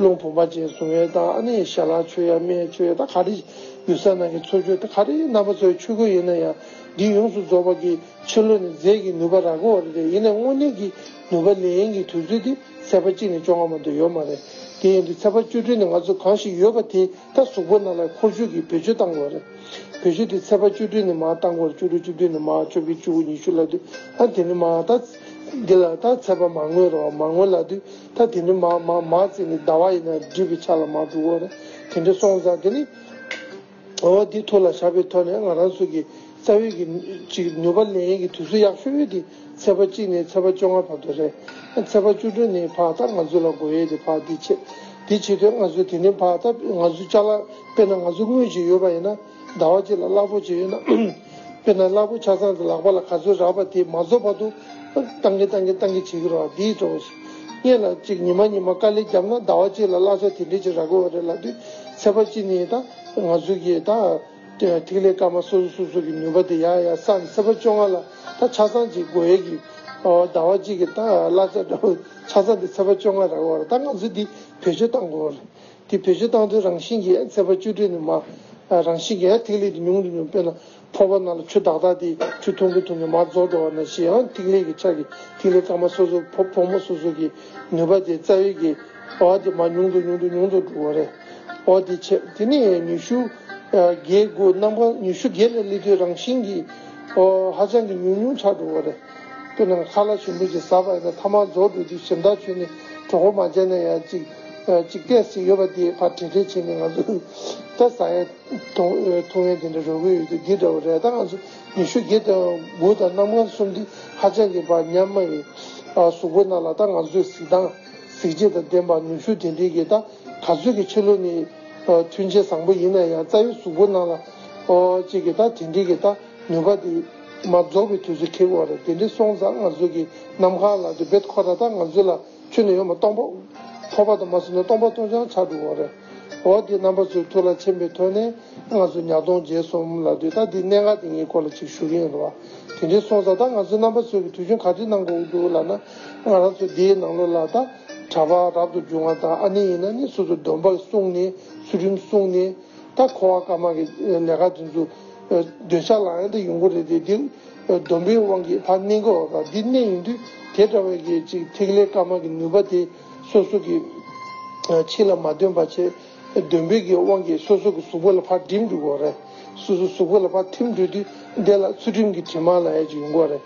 [SPEAKER 1] ལུང་བུམ་པ་ཅན་བཟུང་བས་ད་ཨ་ནི་ཞལ་ལག་མཆོད་ཡ་མེད་མཆོད་ཡ་ད་ག་རེ་ཡུལ་ས་ནང་གི་འཚོ་བཅུད་ད་ག་རེ་རྣམ་པ་ཚོའི་ཆུ་ཁོལ་ཡིན་ན་ཡང་འདི་ཡོངས་སུ་རྫོགས་པ་གི་ཕྱི་ལོ་ནས་རྫས་ཀྱི་ནུས་པ་རག་གོ་བ་རེད་ཡིན་ནས་དངོས་གནས་ཀྱི། ནུས་པ་ལེན་གྱི་དུས་ཚོད་དེ་ཚེས་པ་གཅིག་ནས་བཅོ་ལྔ་བར་དུ་ཡོད་མ་རེད། དེ་ཡིན་དུས་ཚེས་པ་བཅུ་དྲུག་ནས་ང་ཚོ་གང་ཞིག་ཡོད་པ་དེ་དག་གཟུགས་པོ་རྣམས་ལ་འཁོར་རྒྱུག་གིས་བེད་སྤྱོད་བཏང་དགོས་རེད། བེད་སྤྱོད་དེ་ཚེས་པ་བཅུ་དྲུག་ནས་མར་བཏང་སྐོར་བཅུ་དྲུག་བཅུ་བདུན་ནས་མར་བཅོ་བརྒྱད་བཅུ་དགུ་ཉི་ཤུ་ལ་དུས་ད་དེ་ནས་མར་ད་འདི་ལ་ད་ཚེས་པ་མར་ངོས་རོགས་མར་ངོས་ལ་དུས་ད་དེ་ནས་མར་མར་མར་ཚེས་ནི་ཟླ་བ་ཡིན་ན་སྒྲིབ་པའི་ཆ་ལ་མར་འགྲོ་དགོས་རེད་དེ་འདྲའི་སོང་ཙང་དེ་ནི། ངོ་བོ་འདི་ཐུགས་ལ་བཞག་པའི་ཐོག་ནས་ང་རང་ཚོ་གི་རྩ་བའི་གི་གཅིག་ནུས་པ་ལེན་ཡིན་གི་དུས་ཚོད་ཡག་ཤོས་ཡོད་དེ་ཚེས་པ་གཅིག་ནས་ཚེས་པ་བཅོ་ལྔ་བར་དུ་རེད། ཚེས་པ་བཅུ་དྲུག་ནས་བར་ད་ང་ཚོ་ལ་དགོས་ཡོད་དེ་བར་འདི་ཆེད་དེ་ཆེད་དུས་ང་ཚོ་དེ་ནས་བར་ད་ང་ཚོ་བཅའ་ལག་དཔེར་ན་ང་ཚོ་དངུལ་གཅིག་ཡོད་པ་ཡིན་ན་ཟླ་བ་གཅིག་ལ་གླ་ཕོགས་གཅིག་ཡོད་ན་དཔེར་ན་གླ་ཕོགས་ཆ་ཚང་དེ་ལག་པ་ལ་ག་ཚོད་རག་པ་དེ་མ་རྫོགས་བར་དུ་བཏང་གི་བཏང་གི་བཏང་གི་བྱེད་ཀྱི་རོགས་འདིའི་གྲོགས། གཉིས་ལ་གཅིག་ཉི་མ་ཉི་མ་དཀའ་ལས་བརྒྱབ་ན་ཟླ་བ་གཅིག་ལ་གླ་ས་དེ་འདྲས་ཅིག་རག་དགོས་བ་རེད་ལབ་དུས་ཚད་པ་ཅི་ནི་ད་ང་ཚོའི་གི་ད་ཐིག་ལེ་སྐར་མ་སོ་སོ་སོ་སོ་གི་ནུས་པ་དེ་ཡག་ཡག་སམ་ཚད་པ་བཅོ་ལྔ་ལ་ད་ཆ་ཚང་གཅིག་དགོས་ཡས་གི་ཟླ་བ་གཅིག་གི་ད་གླ་ས་འདྲ་བོ་ཆ་ཚང་དེ་ཚད་པ་བཅོ་ལྔ་རག་བ་རེད་ད་ང་ཚོ་དེ་བེད་སྤྱོད་བཏང་དགོས་བ་རེད་དེ་བེད་སྤྱོད་བཏང་དུས་རང་བཞིན་གི་ཡས་ཚད་པ་བཅུ་དྲུག་ནི་མ་རང་བཞིན་གི་ཡས་ཐིག་ལེ་དེ་ཉུང་དུ་ཉུང་དཔེར་ན། ཐོག་ཁ་ན་ལ་ཆུ་དག་དག་དེ་ཆུ་འཐུང་གིན་འཐུང་གིན་མར་རྫོགས་འགྲོ་བ་ན་ཞི་ཨན་ཐིག་ལེ་གི་ཕྱག་གིས་ཐིག་ལེ་སྐར་མ་སོ་སོ་བུ་ཕོ་མོ་སོ་སོ་གི་ནུས་པ་དེ་རྩ་བའི་གི་བ་དེ་མ་ཉུང་དུ་ཉུང་དུ་ཉུང་དུ་འགྲོ་བ་རེད། འོ་དེ་ཆད་དེ་ནས་ཉི་ཤུ་བརྒྱད་དགུ་རྣམ་པ་ཉི་ཤུ་བརྒྱད་ནས་ལི་ཐོའི་རང་བཞིན་གྱི་འོ་ཧ་ཅང་གི་ཉུང་ཉུང་ཆགས་འགྲོ་བ་རེད། དཔེར་ན་མཁའ་ལ་ཞུན་འབུད་ཅིག་ཟ་བ་ཡིན་ན་ཐ་མར་རྫོགས་འགྲོ་དུས་ཞིམ་དག་ཆུ་ནི་གྲོག་པོ་མ་བྱས་ན་ཡང་ཅིག་ཅིག་བལྟས་ཟིག་ཡོད་པ་དེ་ཕར་བྲེལ་བྲེལ་བྱས་ནས་ང་ཚོས་ད་ཟ་ཡ། ཐོ་ཡན་དེ་འདྲ་རོལ་གྱི་ཡོད་དུས་འདི་འདྲ་བ་རས་དང་ཉི་ཤུ་བརྒྱད་དང་དགུ་དང་གནམ་སྔགས་གསུམ་འདི་ཧ་ཅང་གི་བར་ཉམས་མ་ཡིན། གཟུགས་པོ་ན་ལ་དང་ང་ཚོས་གཟིགས་སྟངས་གཟིགས་བྱེད་དང་ལྡན་པ་ནུས་ཤུགས་དེ་འདྲའི་གི་ད་ག་ཚོད་ཀྱི་ཆོས་ལུགས་ནི་མཐུན་ཆེ་བཟང་པོ་ཡིན་ན་ཡང་རྩ་བའི་གཟུགས་པོ་ན་ལ་ཅིག་གི་ད་དེ་འདྲའི་གི་ད་ནུས་པ་དེ་མ་རྫོགས་པའི་དུས་སུ་ཁེལ་དགོས་བ་རེད་དེ་འདྲའི་སོང་ཙང་ང་ཚོ་གི་ནམ་མཁའ་ལ་དུ་བེད་ཁོ་ད་ད་ང་ཚོ་ལ། ཆོས་ནི་ཡོད་མ་སྟོང་པ། འཕོ་བ་དང་མ་བསྲེས་ན་སྟོང་པ་སྟོང་ཆའང་ཆགས་འགྲོ་བ་རེད། འོ་དེ་རྣམ་པ་ཚོའི་ཐུགས་ལ་འཆེམ་པའི་དོན་ནི། ང་ཚོ་ཉག་སྟོང་རྒྱལ་གསུམ་ལ་དུས་ད་ལྟའི་གནད་འགག་དེ་གཉིས་སྐོར་ལ་ཅིག་ཞུ་གིན་ཡོད་ལ། དེ་འདྲའི་སོང་ས་ད་ང་ཚོའི་རྣམ་པ་ཚོས་ཀྱི་དུས་ཆུང་ག་དུས་གནང་དགོས་ཀྱི་འདུག་ལབ་ན། ང་རང་ཚོ་འདིའི་ནང་ལོ་ལ་ད་གྲྭ་པ་རབ་ཏུ་བྱུང་བ་དང་ཨ་ནེ་ཡིན་ན་ནི་སོ་སོ་སྡོམ་པ་བསྲུངས་ནས་ཚུལ་ཁྲིམས་བསྲུངས་ནས། ད་ཁོ་བ་ཀརྨ་གི་ལས་ཀ་དེ་ཚོ། འདོད་ཆགས་ལ་ཡང་ད་ཡོང་གི་རེད་དེ། སྡོམ་པའི་དབང་གིས་ལྷ་གནས་འགོ་བ་འདི་གནས་ཡིན་དུས་དེ་འདྲ་བའི་གི་ཅིག་ཐིག་ལེ་དཀར་དམར་གི་ནུས་པ་དེ་སོ་སོ་གི་ཕྱི་ལ་མ་འདོན་པ་ཆེ་སྡོམ་པའི་གི་དབང་གིས་སོ་སོ་གི་གཟུགས་པོ་ལ་ཕར་འགྲིམ་འགྲོ་དགོ་རེ་སོ་སོ་གཟུགས་པོ་ལ་ཕར་འཐིམ་འགྲོ་དུས་དེ་ལ་ཚུལ་ཁྲིམས་གི་དྲི་མ་ལ་ཨེ་ཅིག་ཡོང་གོ་རེ་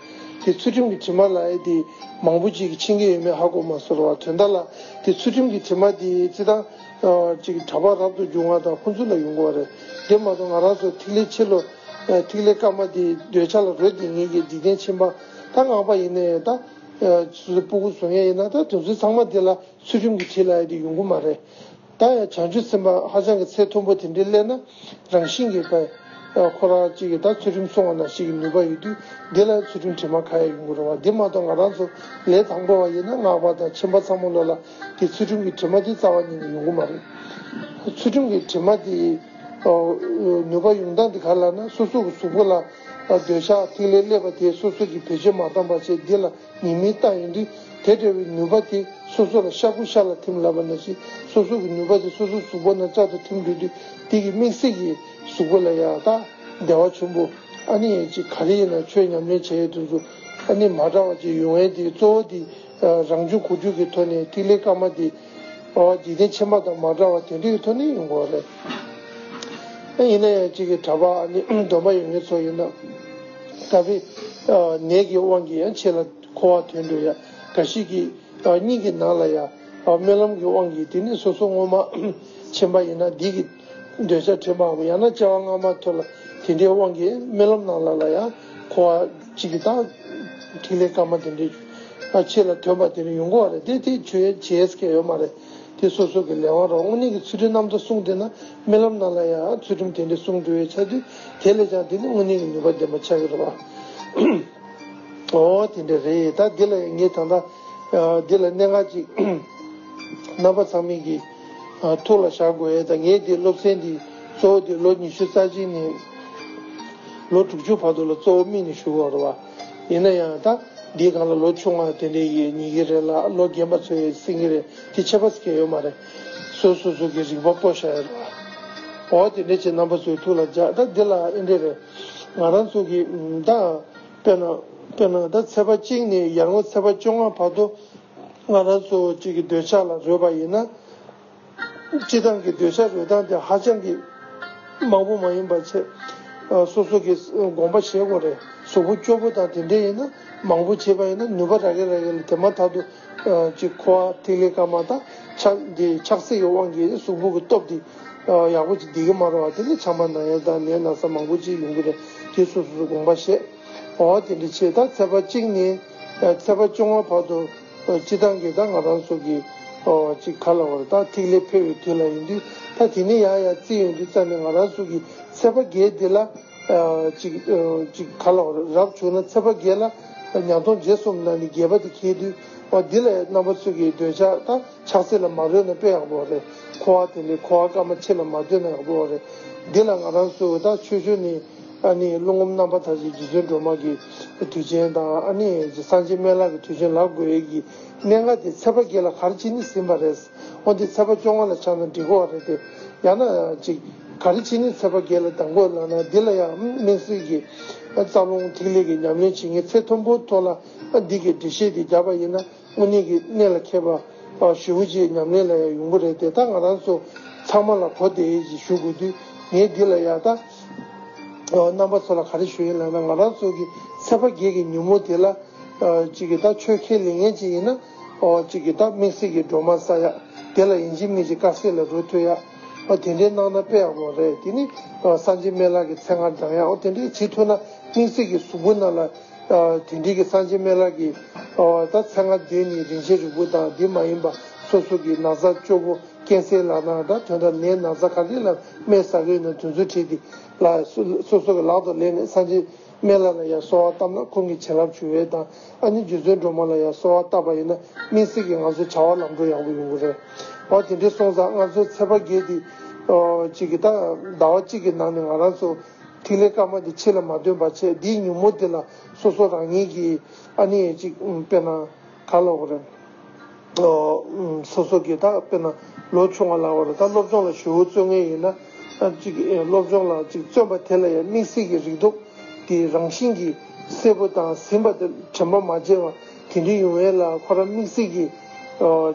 [SPEAKER 1] དེ་ཚུལ་ཁྲིམས་གི་དྲི་མ་ལ་ཨེ་དེ་མང་པོ་ཅིག་ཕྱིན་གི་ཡོད་མེད་ཧ་གོ་མ་སོ་ར་བ་དོན་དག་ལ་དེ་ཚུལ་ཁྲིམས་གི་དྲི་མ་དེ་རྩི་དང་ཅིག་གྲ་པ་རབ་ཏུ་འབྱུང་བ་དང་ཕུན་ཚུགས་ལ་ཡོང་གོ་རེ་དེ་མ་ཏོ་ང་རང་སོ་ཐིག་ལེ་ཕྱི་ལོ། ཐིག་ལེ་སྐར་མ་དེའི་འདོད་ཆགས་ལ་རོལ་ཏེ་ངེད་ཀྱི་འཇིག་རྟེན་ཕྱི་མ་ད་སྔགས་པ་ཡིན་ན་ཡང་ད། སོ་སོའི་སྤུ་གུ་བཟོ་མཁན་ཡིན་ན་ད་དེ་ཚོའི་ཚང་མ་དེ་ལ་ཚུལ་ཁྲིམས་ཀྱིས་བྱེད་ལ་ཡོད་དེ་ཡོང་གི་མ་རེད། ད་ཡང་བྱང་ཆུབ་སེམས་དཔའ་ཧ་ཅང་གི་ཚད་མཐོན་པོ་དེ་འདྲའི་སླད་ན་རང་བཞིན་གྱིས་ད། ཁོ་རང་གཅིག་གིས་ད་ཚུལ་ཁྲིམས་སྲུང་བ་ན་ཞིག་གི་ནུས་པ་ཡོད་དུས་དེ་ལ་ཚུལ་ཁྲིམས་དྲི་མ་ག་ཡ་ཡོང་གི་རུང་བ་དེ་མ་གཏོགས་ང་རང་ཚོ་ལས་དང་པོ་བ་ཡིན་ན་སྔགས་པ་དང་ཁྱིམ་པ་ཚང་མ་བློ་ལ་དེ་ཚུལ་ཁྲིམས་ཀྱི་དྲི་མ་དེ་རྩ་བ་ཉིད་ནས་ཡོང་གི་མ་རེད། ཚུལ་ཁྲིམས་ཀྱི་དྲི་མ་དེ། ནུས་པ་ཡོངས་དག་འདི་ག་ལ་ན་སོ་སོ་གི་གཟུགས་པོ་ལ་འདོད་ཆགས་ཐིག་ལེ་སླེབ་པ་དེས་སོ་སོ་གི་བེད་སྤྱོད་མ་བཏང་པ་ཆེ་འདི་ལ་ཉིད་མི་རྟག་ཡིན་དུས་དེ་འདྲ་བའི་ནུས་པ་དེ་སོ་སོ་ལ་ཤ་ཁུ་ཤ་ལ་ཐིམ་ལབ་པ་ན་ཞིག་སོ་སོ་གི་ནུས་པ་དེ་སོ་སོ་གཟུགས་པོ་ན་ཅག་ཏུ་ཐིམ་འགྲོ་དུས་དེ་གི་མིག་སེར་གི་གཟུགས་པོ་ལ་ཡང་དག་བདེ་བ་ཆུན་པོ་ཨ་ནི་ཡེ་གཅིག་ག་རེ་ཡིན་ན་ཆོས་ཉམས་ལེན་བྱས་ཡོད་དུས་སུ་ཨ་ནི་མ་བྲ་བ་གཅིག་ཡོང་བས་དེའི་གཙོ་བོ་དེ་རང་རྒྱུད་གོ་རྒྱུད་ཀྱི་ཐོག་ནས་ཐིག་ལེ་དཀར་མ་འདི། འཇིག་རྟེན་ཕྱི་མ་དང་མ་འདྲ་བར་དེ་འདྲ་ཡི་ཐོག་ནས་ཡོང་དགོས་པ་རེད། ཡིན་ན་ཡང་གཅིག་གིས་གྲྭ་པ་ནི་གདོན་པ་ཡོད་མཁན་ཚོ་ཡིན། ད་བི། ནད་ཀྱི་དབང་གིས་ཡང་ཆེ་ལ་འཁོར་བ་དོན་འགྲུབ་ཡ་འགའ་ཞིག་གིས། སྙིང་གི་ནང་ལ་ཡ། སྨོན་ལམ་གྱི་དབང་གིས་དེ་ནི་སོ་སོ་སྔོན་མ། ཕྱི་མ་ཡིན་ན་འདི་གི། འདོད་ཆགས་ཐོད་པའམ་ཡང་ན་བཅའ་བ་སྔ་མ་ཐོད་ལ་དེ་འདྲའི་དབང་གིས་རྨི་ལམ་ནང་ལ་ལ་ཡང་འཁོར་བ་གཅིག་གི་དང། ཐིག་ལེ་སྐར་མ་དེ་འདྲའི་ཆེ་ལ་ཐོད་པ་དེ་རུ་ཡོང་གི་བ་རེད་དེ་དེ་ཁྱོད་བྱས་ཀྱི་ཡོད་མ་རེད་དེ་སོ་སོ་གི་ལས་དབང་རོགས་དངོས་གནས་ཀྱི་ཚུལ་ཁྲིམས་རྣམ་ཐར་གསུངས་དེ་ན་རྨི་ལམ་ནང་ལ་ཡང་ཚུལ་ཁྲིམས་དེ་འདྲའི་གསུངས་འགྲོ་བའི་ཆ་དུས་དེ་ལས་ཀྱང་དེ་ནི་དངོས་གནས་ཀྱི་ནུས་པ་ལྡན་པ་ཆགས་ཀྱི་རེད་བ། འོ་དེ་འདྲ་རེད་ད་འདི་ལ་ངས་ད་ལྟ་འདི་ལ་གནད་འགག་ཅིག་རྣམ་པ་ཚང་མིན་གྱི། ཐུགས་ལ་བཞག་དགོས་ཨེ་ད་ངས་འདི་སློབ་ཚན་འདི་གཙོ་བོ་འདི་ལོ་ཉི་ཤུ་རྩ་གཅིག་ནས་ལོ་དྲུག་ཅུ་བར་དུ་ལ་གཙོ་བོ་དམིགས་ནས་ཞུ་དགོས་རེད་བ། ཡིན་ན་ཡང་ད་འདི་གང་ལ་ལོ་ཆུང་བ་དེ་འདྲས་ཡིན་ཉི་གི་རེད་ལ་ལོ་རྒན་པ་ཚོའི་སེང་གི་རེད་དེ་ཆད་པ་གེ་ཡོད་མ་རེད། སོ་སོ་སོ་གི་རིག་པ་སྤོ་བཞག་ཡོད་རེད་བ། འོ་དེ་འདྲས་བྱས་རྣམ་པ་ཚོའི་ཐུགས་ལ་བཞག་ད་འདི་ལ་ཨེ་འདྲས་རེད། ང་རང་ཚོ་གི་ད་དཔེར་ན་དཔེར་ན་ད་ཚེ་པ་གཅིག་ནས་ཡར་ངོ་ཚེ་པ་བཅོ་ལྔ་བར་དུ་སྔ་རབས་གཙོ་བོ་གཅིག་གི་འདོད་ཆགས་ལ་རོལ་པ་ཡིན་ན། སྤྱི་བཏང་གི་འདོད་ཆགས་རོལ་སྟངས་དེ་ཧ་ཅང་གི་མང་པོ་མ་ཡིན་པར་ཆེད་སོ་སོ་གིས་དགོངས་པ་བཞེས་དགོས་རེད་གཟུགས་པོ་སྐྱོ་པོ་དང་དེ་འདྲས་ཡིན་ན་མང་པོ་བྱས་པ་ཡིན་ན་ནུས་པ་རག་གི་རག་གི་ལ་དེ་མ་ཐག་ཏུ་གཅིག་ཁོ་བ་ཐིག་ལེ་སྐར་མ་དང་ཆགས་འདི་ཆགས་སྲེད་ཀྱི་དབང་གིས་གཟུགས་པོ་གི་སྟོབས་འདི་ཡག་པོ་བྱེད་གི་མ་རོ་བ་དེ་ནི་ཆང་པ་ན་ཡོད་དང་ལས་ན་ས་མང་པོ་ཅིག་ཡོང་གི་རེད་དེ་སོ་སོ་སུ་དགོངས་པ་བཞེས། འོ་དེ་འདྲ་བྱས་ད་ཚེ་པ་གཅིག་ནས་ཚེ་པ་བཅོ་ལྔ་བར་དུ་སྤྱི་དང་གི་ད་ང་རང་སོགས་ཀྱི་ཅིག་ག་ལ་བར་ད་ཐིག་ལེ་འཕེལ་བའི་དུས་ལ་ཡོང་དུས་ད་དེ་ནས་ཡང་ཡང་རྩིས་ཡོང་དུས་ཙམ་ནས་ང་རང་སོགས་ཀྱི་ཚེ་པ་བརྒྱད་འདི་ལ་ཅིག་ཅིག་ག་ལ་བར་རབ་བྱུང་ན་ཚེ་པ་བརྒྱད་ལ་ཉག་སྟོང་རྗེས་གསུམ་ན་ནི་བརྒྱད་པ་དེ་ཁེལ་དུས་འོ་འདི་ལ་རྣམ་པ་ཚུལ་གྱིས་འདོད་ཆགས་ད་ཆགས་ཚེ་ལ་མ་རོལ་ན་དཔེ་ཡག་པོ་རེད་གོ་ཨ་དེ་འདྲའི་གོ་བ་སྐར་མ་ཕྱེད་ལ་མ་སྡོད་ན་ཡག་པོ་རེད་འདི་ལ་ང་རང་སོགས་ཀྱི་ད་ཆོས་ཆོས་ནི། ཨ་ནི་ཀླུ་ངོམ་རྣམ་པ་ཐ་ཆུའི་རྗེ་བཙུན་སྒྲོལ་མ་གྱི་དུས་ཆེན་དང་ཨ་ནི་སངས་རྒྱས་སྨན་ལགས་ཀྱི་དུས་ཆེན་ལགས་དགོས་ཡོད་ཀྱི་གནད་འགག་དེ་ཚེས་པ་བརྒྱད་ལ་གར་བྱེད་ནི་ཟིན་པ་རེད། འོན་ཏེ་ཚེས་པ་བཅོ་ལྔ་ལ་ཆགས་ན་འགྲིག་གོ་བ་རེད་དེ། ཡང་ན། གཅིག། གར་བྱེད་ནི་ཚེས་པ་བརྒྱད་ལ་འདང་དགོས་ལགས་ན་འདི་ལ་ཡང་མིང་སྲིང་གི་རྩ་རླུང་ཐིག་ལེ་གྱི་ཉམས་ལེན་བྱེད་ངེས་ཚེས་ཐུམ་པོ་ཐོག་ལ་འདི་གའི་འགྲེལ་བཤད་དེ་རྒྱབ་པ་ཡིན་ན། དངོས་གནས་ཀྱི་གནད་ལ་མཁས་པ་ཞུ་བོ་ཆེའི་ཉམས་ལེན་ལ་ཡང་ཡོང་གི་རེད་དེ་ད་ང་རང་ཚོ་ཚང་མ་ལ་གོ་བདེ་ཡིན་ཞེས་ཞུ་དགོས་དུས་ངས་འདི་ལ་ཡག་ཐག་རྣམ་པ་ཚོ་ལ་ག་རེ་ཞུ་ཡིན་ལབ་ན་ང་རང་ཚོ་གི་ཚེ་བ་རྒས་ཀྱི་ཉིན་མོ་དེ་ལ་གཅིག་གི་ད་ཆོས་ཁས་ལེན་མཁན་ཅིག་ཡིན་ན་གཅིག་གི་ད་དམིགས་བསལ་གྱི་སྒྲོལ་མ་ས་ཡག་དེ་ལ་ཡིན་གཅིག་མིན་གཅིག་དཀར་ཟས་ལ་རོལ་ཐོས་ཡག་དེ་འདྲས་གནང་ན་དཔེ་ཡག་པོ་རེད་དེ་ནི་སངས་རྒྱས་སྨན་ལགས་ཀྱི་མཚན་སྔར་འབྲང་ཡག་དེ་འདྲས་བྱེད་ཐུབ་ན་དམིགས་བསལ་གྱི་གཟུགས་པོ་རྣམས་ལ། དེ་འབྲེལ་གྱི་སངས་ཆེན་སྨན་བླ་ཀྱི། ད་ཚེ་ལྔ་བདུན་ནི་རིན་ཆེན་རིལ་བུ་དང་འདི་མ་ཡིན་པ་སོ་སོ་གྱི་ན་བཟའ་བཅོ་བོ་རྐྱེན་སེལ་ལག་ན་སྒྲ་དོན་དང་ནའི་ན་བཟའ་ག་ལེར་ལ་སྨན་ཟ་བའི་ནང་དོན་ཚུལ་ཁྲིད་དེ། ལ་སོ་སོ་གྱི་ལག་ཏུ་ལེན་ནས་སངས་ཆེན་སྨན་བླ་ལ་ཡང་གསོལ་བ་བཏབ་ན་ཁོང་གི་བྱིན་རླབས་འབྱུང་བས་དང་ཨ་ནི་རྒྱུ་མཚན་སྒྲོལ་མ་ལ་ཡང་གསོལ་བ་བཏབ་པ་ཡིན་ན་སྨིན་སྲེག་གི་ང་ཚོའི་བྱ་བ་ལམ་འགྲོ་ཡག་པོ་ཡོང་གི་རེད། འོ་དེ་འདྲའི་སོང་ཙང་ང་ཚོའི་ཚེ་དཔག་བརྒྱད་དེ། གཅིག་གི་ད་ཟླ་བ་གཅིག་གི་ནང་ནས་ང་རང་ཚོ། ཐིག་ལེ་སྐར་མ་དེ་ཕྱི་ལ་མ་སྟོན་པར་ཆད་འདིའི་མྱུར་མོར་དེ་ལ་སོ་སོ་རང་ཉིད་ཀྱིས་ཨ་ནི་ཡེ་ཅིག་དཔེར་ན་ག་ལོག་པར། སོ་སོ་གིས་ད་དཔེར་ན་ལོ་ཆུང་བ་ལགས་པར་ད་སློབ་སྦྱོང་ལ་ཞུ་བོ་བརྩོན་ངེས་ཡིན་ན། ཅིག་སློབ་སྦྱོང་ལ་ཅིག་བརྩོན་པ་དེ་ལ་ཡང་དམིགས་བསལ་གྱི་རིགས་འདུག་དེའི་རང་བཞིན་གྱིས་སེར་པོ་དང་ཟིན་པ་དེ་དྲན་པ་མ་བརྗེད་པ་དེ་འདྲའི་ཡུང་བས་ལ་ཁོ་རང་དམིགས་བསལ་གྱིས།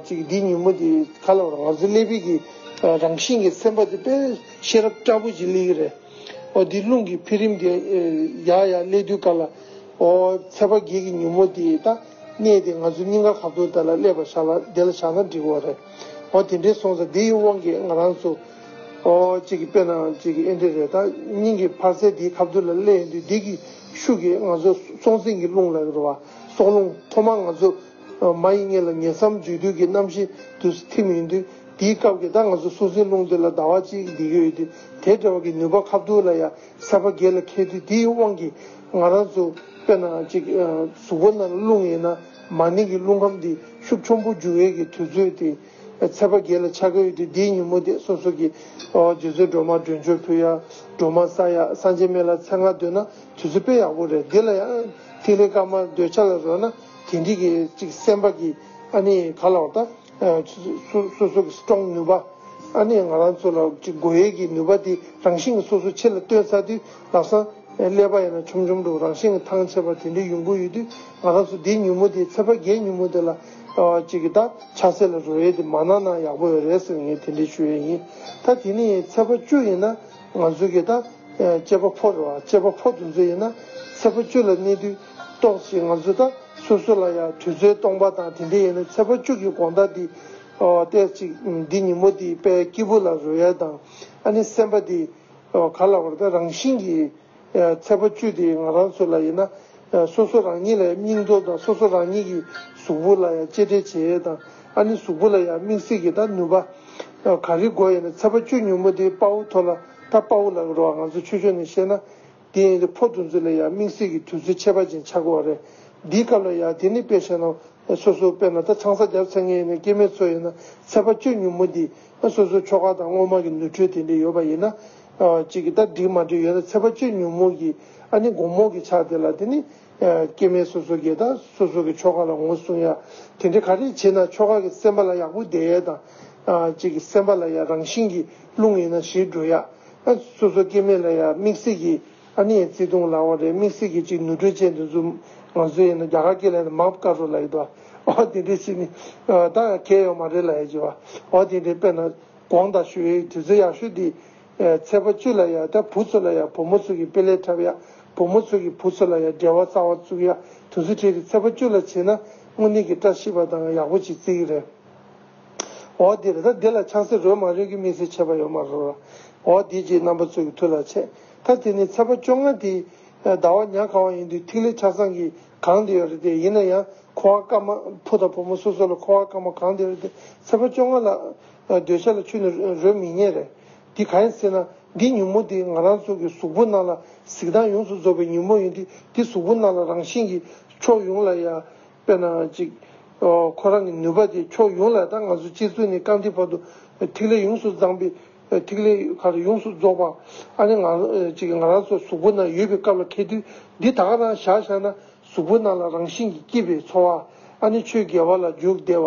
[SPEAKER 1] ཅིག་འདིའི་མྱུར་མོ་དེ་ག་ལོག་པར་ང་ཚོའི་ཀླད་པའི་གི་རང་བཞིན་གྱི་སེམས་པ་དེ་དཔེ། ཤེས་རབ་སྐྱ་བོ་བཞི་ལེགས་རེ། ཨོ་འདི་རླུང་གི་འཕེལ་རིམ་དེ། ཡ་ཡ་ཀླད་རྡུལ་དཀར་ལ། ཨོ། ཚད་པ་བརྒྱད་ཀྱི་ཉུང་མོ་དེ་དག། གནས་དེ་ང་ཚོའི་སྙིང་ག་ཁ་བརྡོལ་དག་ལ་ཀླད་པ་བཞག་ལ་དེ་ལ་བཞག་ན་འགྲིག་བ་རེད། ཨོ་དེ་འདྲའི་སོང་ས་དེ་ཡི་དབང་གིས་ང་རང་ཚོ། ཨོ། གཅིག་གི་དཔེ་ནའང་གཅིག་གི་ཨེ་འདྲ་རེད་ད། སྙིང་གི་འཕར་ཚད་དེའི་ཁ་བརྡོལ་ལ་ཀླད་ཡིན་དུས་དེ་གི་ཤུགས་ཀྱིས་ང་ཚོ་སྲོག་འཛིན་གྱི་རླུང་ལ་རེ་བ། སྲོག་རླུང། ཐོག་མར་ང་ཚོ་མ་ཡི་གཉེན་ལ་ཉེ་མཚམས་འཇུག་དུས་ཀྱི་རྣམ་ཤེས་དུ་ཐིམ་ཡོང་དུས་དེའི་སྐབས་ཀྱི་ཟླ་ང་ཚོ་སྲོག་འཛིན་རླུང་དེ་ལ་ཟླ་བ་གཅིག་འདི་ཡོད་དུས་དེ་འདྲ་བ་ཀྱི་ནུས་པ་ཁ་བསྡུར་ལ་ཡ་མཚར་བ་སྒེར་ལ་ཁེལ་དུས་དེའི་དབང་གིས་ང་རང་ཚོ་དཔེར་ན་གཅིག་གཟུགས་པོ་ན་རླུང་ཡིན་ན་མ་ནིང་གི་རླུང་ཁམས་དེ་ཤུགས་ཆོམ་པོ་འཇུག་འོས་ཀྱི་དུས་ཚོད་དེ་ཚད་པ་སྒེར་ལ་ཆ་ཁ་ཡོད་དུས་དེའི་ཉིན་མོ་དེ་སོ་སོ་གྱི་རྗེ་བཙུན་སྒྲོལ་མ་སྒྲོལ་མཆོག་ཕུལ་ཡ་སྒྲོལ་མ་ས་ཡ་སངས་རྒྱས་སྨན་བླ་ཚེ་དངག་འདོད་ན་དུས་ཚོད་དཔེ་ཡག་པོ་རེད་འདི་ལ་ཡང་ཐིག་ལེ་སྐར་མ་འདོད་ཆ་ལ་རོལ་ན། དེ་འདི་གི་གཅིག་སེམས་པ་གི་ཨ་ནི་ག་ལ་བ་ད། སོ་སོ་གི strong ནུས་པ། ཨ་ནི་ང་རང་ཚོ་ལ་གཅིག་དགོས་ཡས་ཀྱི་ནུས་པ་དེ་རང་བཞིན་སོ་སོ་ཆེ་ལ་སྟོན་ཚར་དུས་ལག་སང་ཀླད་པ་ཡང་ན་ཆོམ་ཆོམ་དུ་རང་བཞིན་ཐང་ཆད་པ་དེ་འདྲའི་ཡོང་གི་ཡོད་དུས་ང་རང་ཚོ་དེ་ཉུ་མོ་དེ་ཚེ་བར་རྒྱལ་ཉུ་མོ་དེ་ལ་གཅིག་གི་ད་ཆ་སེ་ལ་རོལ་ཡས་དེ་མ་གནང་ན་ཡག་པོ་རེད་ཟེར་ངས་དེ་འདྲའི་ཞུ་ཡས་ཡིན་ད་དེ་ནི་ཚེ་བར་བཅུ་ཡིན་ན་ང་ཚོ་གི་ད་སྐྱེས་པ་ཕོ་རེད་བ་སྐྱེས་པ་ཕོ་དུ་ཚོ་ཡིན་ན་ཚེ་བར་བཅུ་ལ་གནས་དུས། རྟོགས་ཀྱིས་ང་ཚོ་དང་སོ་སོ་ལ་ཡང་དུས་ཚོད་སྟོང་པ་དང་དེ་འདྲ་ཡོད་ན་ཚེ་དཔག་བཅུ་གྱི་དགོངས་དག་འདི་གཏད་ཅིག་འདི་ཉིན་མོ་འདི་དཔལ་སྐྱེས་བུ་ལ་རོལ་ཡ་དང་ཨ་ནི་སེམས་པ་འདི་ག་ལ་བར་དང་རང་བཞིན་གྱིས་ཚེ་དཔག་བཅུ་འདི་ང་རང་ཚོ་ལ་ཡོད་ན་སོ་སོ་རང་ཉིད་ལ་ཡང་སྙིང་སྟོབས་དང་སོ་སོ་རང་ཉིད་ཀྱི་གཟུགས་པོ་ལ་ཡང་གཅེས་སྤྲས་བྱེད་ཡ་དང་ཨ་ནི་གཟུགས་པོ་ལ་ཡང་དམིགས་བསལ་གྱི་དང་ནུས་པ་ག་རེ་དགོས་ཡོད་ན་ཚེ་དཔག་བཅུ་ཉུང་མོ་འདི་དཔའ་བོ་ཐོ་ལ་དང་དཔའ་བོ་ལ་རོལ་བ་ང་ཚོ་ཆོས་ཕྱོགས་ནས་བཤད་ན། དེ་ཡིན་རི་ཕོ་འདུ་འཛི་ལ་ཡང་དམིགས་བསལ་གྱི་དུས་ཚོད་ཆད་པ་ཅན་ཆགས་དགོས་བ་རེད། འདིའི་སྐབས་ལ་ཡང་དེ་ནི་དཔེ་བཤད་ནང་སོ་སོའི་དཔེ་ན་ད་ཆང་ས་རྒྱབ་ཚད་ངན་ཡིན་ན་སྐྱེ་མེད་ཚོ་ཡིན་ན་ཚད་པ་སྤྱོད་ཉུང་མོ་འདི། སོ་སོའི་ཁྱོ་ག་དང་སྔོན་མ་གི་ནུས་འཁྲོལ་དེ་འདྲས་ཡོད་པ་ཡིན་ན། གཅིག་གིས་ད་འགྲིག་མ་འགྲིག་ཡོད་ན་ཚད་པ་སྤྱོད་ཉུང་མོ་གི་ཨ་ནི་འགོང་མོ་གི་ཆགས་དེ་ལ་དེ་ནི། སྐྱེ་མེད་སོ་སོ་གས་ད་སོ་སོ་གི་ཁྱོ་ག་ལ་ངོ་སྲུང་ཡ། དེ་འདྲས་ག་རེ་བྱེད་ན་ཁྱོ་ག་གི་སེམས་པ་ལ་ཡག་པོ་བསྡད་ཡ་དང། གཅིག་གི་སེམས་པ་ལ་ཡ་རང་བཞིན་གྱི་རླུང་ཡིན་ན་ཞིག་འགྲོ་ཡ། ཨ། སོ་སོ་སྐྱེ་མེད་ལ་ཡང་དམིགས་བསལ་གྱི། ཨ་ནི་ཡང་བརྩེ་དུང་ལ་འོང་རེད་དམིགས་བསལ་གྱི་ཅིག་ནུ་དྲོད་ཅན་དུ་འཛུམ། ང་ཚོ་ཡིན་ན་རྒྱ་གར་སྐད་ལས་ན་མ་བཀའ་བྲོ་ལ་ཡི་དོ། ཨོ་དེ་འདྲའི་ཆེ་ནི། ད་ཡང་ཁྱད་ཡོད་མ་རེད་ལ་ཡ་ཅི་བ། ཨོ་དེ་འདྲའི་དཔེ་ན། དགོངས་དག་ཞུ་ཡའི་དུས་ཚོད་ཡག་ཤོས་འདི། ཚེ་བ་བཅུ་ལ་ཡང་ད་བུ་ཚོ་ལ་ཡང་བུ་མོ་ཚོ་གི་དཔེ་ལས་འཁྲབ་ཡ། བུ་མོ་ཚོ་གི་བུ་ཚོ་ལ་ཡང་འབྲེལ་བ་གསར་བ་བཙུགས་ཡ་དུས་ཚོད་ཁྲིད་དེ་ཚེ་བ་བཅུ་ལ་བྱེད་ན་དངོས་གནས་གི་བཀྲ་ཤིས་པ་དང་ཡག་པོ་ཅིག་བརྩི་གི་རེད། འོ་དེ་རེད་ད་འདི་ལ་ཆང་སེར་རོལ་མ་རོལ་གྱི་དམིགས་བསལ་ཆད་པ་ཡོད་མ་རོ། འོ་དེ་རྗེས་རྣམ་པ་ཚོས་ཀྱི་ཐུགས་ལ་ཆད། ད་དེ་ནི་ཚེས་པ་བཅོ་ལྔ་དེའི་ཟླ་བ་ཉག་ག་བ་ཡིན་དུས་ཐིག་ལེ་ཆ་ཚང་གི་གང་དེ་ཡོད་རེད་དེ་ཡིན་ན་ཡང་ཁོ་བ་སྐར་མ་ཕུ་དང་བུ་མོ་སོ་སོ་ལ་ཁོ་བ་སྐར་མ་གང་དེ་རེད་དེ་ཚེས་པ་བཅོ་ལྔ་ལ་འདོད་ཆགས་ལ་ཆུད་ནས་རོལ་མི་ཉན་རེད། དེ་ག་ཡིན་ཟེར་ན་འདི་ཉུན་མོ་དེ་ང་རང་ཚོ་གི་གཟུགས་པོ་རྣམས་ལ་གཟིགས་སྟངས་ཡོངས་སུ་རྫོགས་པའི་ཉུན་མོ་ཡིན་དུས་དེ་གཟུགས་པོ་རྣམས་ལ་རང་བཞིན་གྱིས་ཕྱོགས་ཡོངས་ལ་ཡ། དཔེར་ན་གཅིག། ཁོ་རང་གི་ནུས་པ་དེ་ཕྱོགས་ཡོངས་ལ་དང་ང་ཚོ་སྤྱིར་ཚུལ་ནི་རྐང་མཐིལ་བར་དུ་ཐིག་ལེ་ཡོངས་སུ་བརྫངས་པས་ཐིག་ལེ་ཁར་ཡོངས་སུ་རྫོགས་པ། ཨ་ནི། གཅིག་ང་རང་ཚོ་གཟུགས་པོ་ན་ཡོད་པའི་སྐབས་ལ་ཁད་དུས་འདི་དག་རང་བཞག་བཞག་ན་གཟུགས་པོ་ན་ལ་རང་བཞིན་གྱིས་སྐྱིད་པའི་འཚོ་བ། ཨ་ནི་ཆོས་དགེ་བ་ལ་འཇུག་བདེ་བ།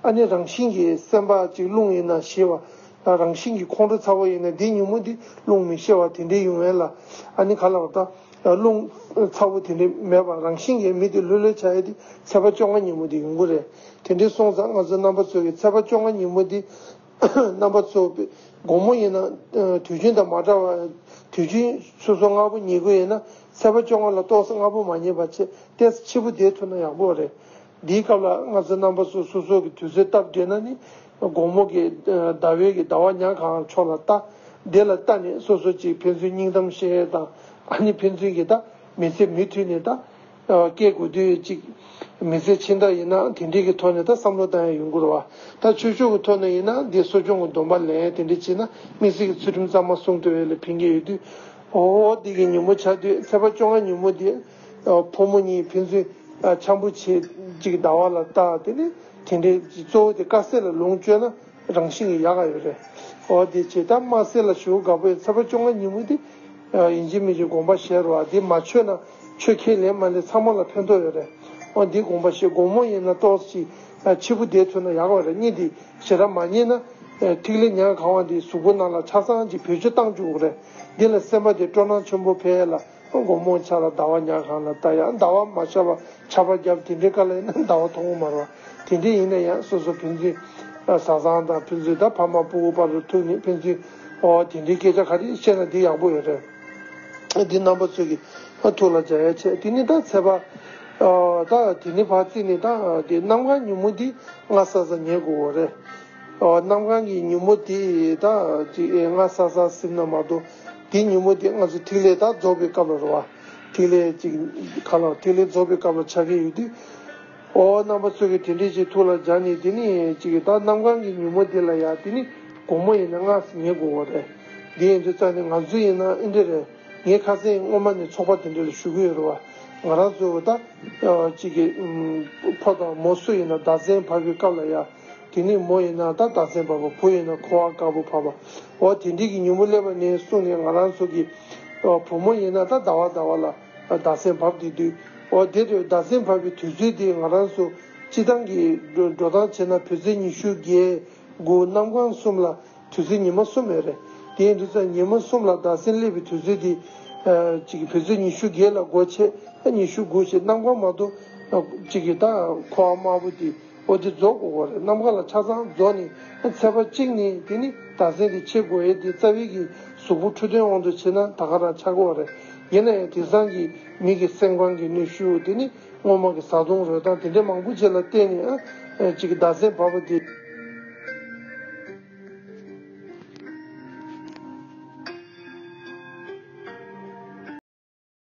[SPEAKER 1] ཨ་ནི་རང་བཞིན་གྱིས་སེམས་པ་གཅིག་རླུང་ཡིན་ན་ཞི་བ། རང་བཞིན་གྱིས་ཁོང་ཁྲོ་ཚ་བོ་ཡིན་ན་འདི་ཉིན་མོ་འདི་རླུང་མི་ཤེས་བ་དེ་འདྲའི་ཡུན་བན་ལ་ཨ་ནི་ག་ལ་བ། རླུང། ཚ་བོ་དེ་འདྲའི་མེད་པར་རང་བཞིན་གྱིས་མི་དེ་ལྷོད་ལྷོད་བྱ་ཡས་དེ་ཚད་པ་བཅོ་ལྔ་ཉིན་མོ་དེ་ཡོང་གི་རེད། དེ་འདྲའི་སོང་ཙང་ང་ཚོའི་རྣམ་པ་ཚོས་ཀྱི་ཚད་པ་བཅོ་ལྔ་ཉིན་མོ་དེ། རྣམ་པ་ཚོས་པའི་དགོང་མོ་ཡིན་ན། དུས་རྒྱུན་དང་མ་འདྲ་བར། དུས་རྒྱུན་སོ་སོ་ལྔ་བོ་ཉལ་གི་ཡིན་ན། ཚད་པ་བཅོ་ལྔ་ལ་ཏོག་སེ་ལྔ་བོ་མ་རྙེད་པ་ཆེད་གཏད་སེ་འཆི་བོ་བསྡད་ཐུབ་ན་ཡག་པོ་རེད། འདིའི་སྐབས་ལ་སྔ་ཚེ་རྣམ་པ་སོ་སོ་སོགས་ཀྱི་དུས་ཚོད་སྟབས་བགྲེས་ན་ནི། དགོང་མོ་གི་ཟླ་བའི་གི་ཟླ་བ་ཉག་གང་ཕྱོགས་ལ་བལྟ། དེ་ལ་བལྟ་ནས་སོ་སོ་གཅིག་ཕན་ཚུན་སྙིང་གཏམ་བཤད་དང། ཨ་ནི་ཕན་ཚུན་གྱིས་བལྟ། མི་ཚེ་མུ་མཐུད་ནས་བལྟ། སྐྱེ་དགུ་དུས་གཅིག། མི་ཚེ་ཕྱི་ཟླ་ཡིན་ན་དེ་འདྲའི་གི་ཐོག་ནས་ད་བསམ་བློ་བཏང་ཡ་ཡུན་འགོར་བ། ད་ཆོས་ཕྱོགས་གི་ཐོག་ནས་ཡིན་ན་འདི་གསོ་སྦྱོང་གི་སྡོམ་པ་ལེན་དེ་འདྲ་བྱེད་ན་དམིགས་བསལ་གྱི་ཚུལ་ཁྲིམས་གཙང་མ་སྲུང་ཐུབ་བས་ལས་ཕན་གྱི་ཡོད་དུས། འོ་འོ་འདི་གི་ཉིན་མོ་ཆགས་དུས་ཚེས་པ་བཅོ་ལྔ་ཉིན་མོ་འདི། ཕོ་མོ་གཉིས་ཕན་ཚུན་འཆམ་པོ་བྱེད་ཅིག་ཟླ་བ་ལ་བལྟ་དེ་ནི་དེ་འདྲའི་གཙོ་བོ་དེ་དཀའ་སེལ་ལ་ལོངས་སྤྱོད་ན་རང་བཞིན་གྱིས་ཡག་ག་ཡོད་རེད་འོ་དེ་བྱེད་ཐབས་དམའ་སེ་ལ་ཞུ་དགའ་པོའི་ཚེ་བ་བཅོ་ལྔ་ཉིན་མོ་དེ་ཡིན་གཅིག་མིན་གཅིག་དགོངས་པ་བཞེས་རོགས་ཨ་དེ་མ་ཆོད་ན་ཆོས་ཁས་ལེན་མ་ལེན་ཚང་མ་ལ་ཕན་ཐོགས་ཡོད་རེད་འོ་འདི་དགོངས་པ་བཞེས་དགོངས་མོ་ཡིན་ན་ཏོག་ཅིག་འཆི་བུ་བསྡད་ཐུབ་ན་ཡག་ག་རེད་གཉིས་འདི་ཞེ་ར་མ་རྙེད་ན་ཐིག་ལེ་ཉག་ག་བ་འདི་གཟུགས་པོ་ནང་ལ་ཆ་ཚང་གཅིག་བེད་སྤྱོད་བཏང་བཅུག་གོ་རེད་འདི་ལ་སེམས་པ་དེ་སྤྲོ་སྣང་ཆེན་པོ་འཕེལ་ལ། དགོང་མོ་འཆར་ལ་ཟླ་བ་ཉག་གང་ལ་བལྟ་ཡང་ཟླ་བ་མ་འཆར་བར་འཆར་པ་བརྒྱབ་དེ་འདྲའི་དཀའ་ལས་ནི་ཟླ་བ་མཐོང་ངོ་མར་བ། དེ་འདྲས་ཡིན་ན་ཡང་སོ་སོ་ཕན་ཚུན་བཟའ་ཚང་དང་ཕན་ཚུན་ད་ཕ་མ་སྤུ་བོ་དཔའ་རུ་ཐུག་ནས་ཕན་ཚུན་ཨོ་དེ་འདྲའི་སྐད་ཆ་ག་རེ་བཤད་ན་དེ་ཡག་པོ་རེད། འདི་རྣམ་པ་ཚོས་ཀྱིས་ཐུགས་ལ་འཇགས་ཡ་བྱས་དེ་ནི་ད་ཚེ་བ། ད་དེ་ནི་བ་རྩིས་ནི་ད་དེ་གནམ་གང་ཉིན་མོ་འདི་ང་ས་ས་ཉལ་དགོས་འོ་རེད། གནམ་གང་གི་ཉིན་མོ་དེ་དག་ཅིག་སྔ་ས་ས་སིམ་ན་མ་གཏོགས་དེ་ཉིན་མོ་དེ་སྔ་སུ་ཐིག་ལེ་དག་རྫོགས་པའི་སྐབས་ལ་རོལ་བ། ཐིག་ལེ་ཅིག་ག་ལ་ཐིག་ལེ་རྫོགས་པའི་སྐབས་ལ་ཆགས་ཀྱི་ཡོད་དུས། ཨོ་རྣམ་པ་ཚོས་གིས་དེ་འདྲས་ཅིག་ཐུགས་ལ་སྦྱར་ནས་དེ་ནི་ཅིག་གདའ་གནམ་གང་གི་ཉིན་མོ་དེ་ལ་ཡང་དེ་ནི་དགོང་མོ་ཡིན་ན་སྔ་ངས་དགོང་བོ་རེད། དེ་ཡིན་དུས་རྩ་ནས་ང་ཚོ་ཡིན་ན་ཨེ་འདྲས་རེད། ངས་ཁ་སེང་སྔོན་མ་ནས་ཚོགས་པ་དེ་འདྲས་ལ་ཞུགས་ཀྱི་ཡོད་རེད་བ། ང་རང་ཚོའི་འོད་ལྟ། ཅིག་གི། ཕོ་དང་མོ་སུ་ཡིན་ན་ཟླ་མཚན་བབས་པའི་སྐབས་ལ་ཡང། དེ་ནས་མོ་ཡིན་ན་ད་ལྟ་ཚེ་འབར་བ་བུ་ཡིན་ན་ཁོ་བ་དཀར་པོ་བར་བ་འོ་དེ་འདྲིས་ཀྱི་ཉིན་མོ་སླེབས་པ་ནས་བཟུང་ནས་ང་རང་ཚོ་གི་བུ་མོ་ཡིན་ན་ད་ཟླ་བ་ཟླ་བ་ལ་ཟླ་ཚེ་འབར་བསྡད་དུས་འོ་དེ་ཟླ་ཚེ་འབར་བའི་དུས་ཚོད་དེ་ང་རང་ཚོ་སྤྱི་སྟངས་ཀྱི་འགྲོ་སྟངས་བྱས་ན་བུ་ཚེ་ཉི་ཤུ་བརྒྱད་དགུ་གནམ་གང་གསུམ་ལ་དུས་ཚོད་ཉི་མ་གསུམ་རེད་རེད་དེའི་དུས་ཚོད་ཉི་མ་གསུམ་ལ་ཟླ་ཚེ་སླེབས་པའི་དུས་ཚོད་དེ་ཅིག་བུ་ཚེ་ཉི་ཤུ་བརྒྱད་ལ་སྒོ་ཕྱེ་ཉི་ཤུ་དགུ་ཞེས་གནམ་གང་མ་གཏོགས་ཅིག་གི་ད་ཁོ་བ་དམར་པོ་དེ། པོ་ཏི་རྫོགས་སྐུ་གོ་རེ་ནམ་མཁའ་ལ་ཆ་ཚང་རྫོགས་ནི་ཚེ་བ་གཅིག་ནི་དེ་ནི་བདག་སེམས་ཀྱི་ཆེ་གོ་ཨེ་དེ་རྩ་བའི་གི་གཟུགས་པོ་འཁྲུལ་དོན་དབང་དུ་བྱེད་ན་ད་ག་རང་ཆ་གོ་རེ་ཡིན་ན་ཡང་དེང་སང་གི་མི་གི་སེམས་ཁང་གི་ནུས་ཤུགས་དེ་ནི་སྔོན་མ་གི་ཟ་འཐུང་རོལ་སྟངས་དེ་འདྲའི་མང་པོ་བྱེད་ལ་བརྟེན་ནས་ཨ་ཅིག་གི་བདག་སེམས་བབ་པོ་ཏི།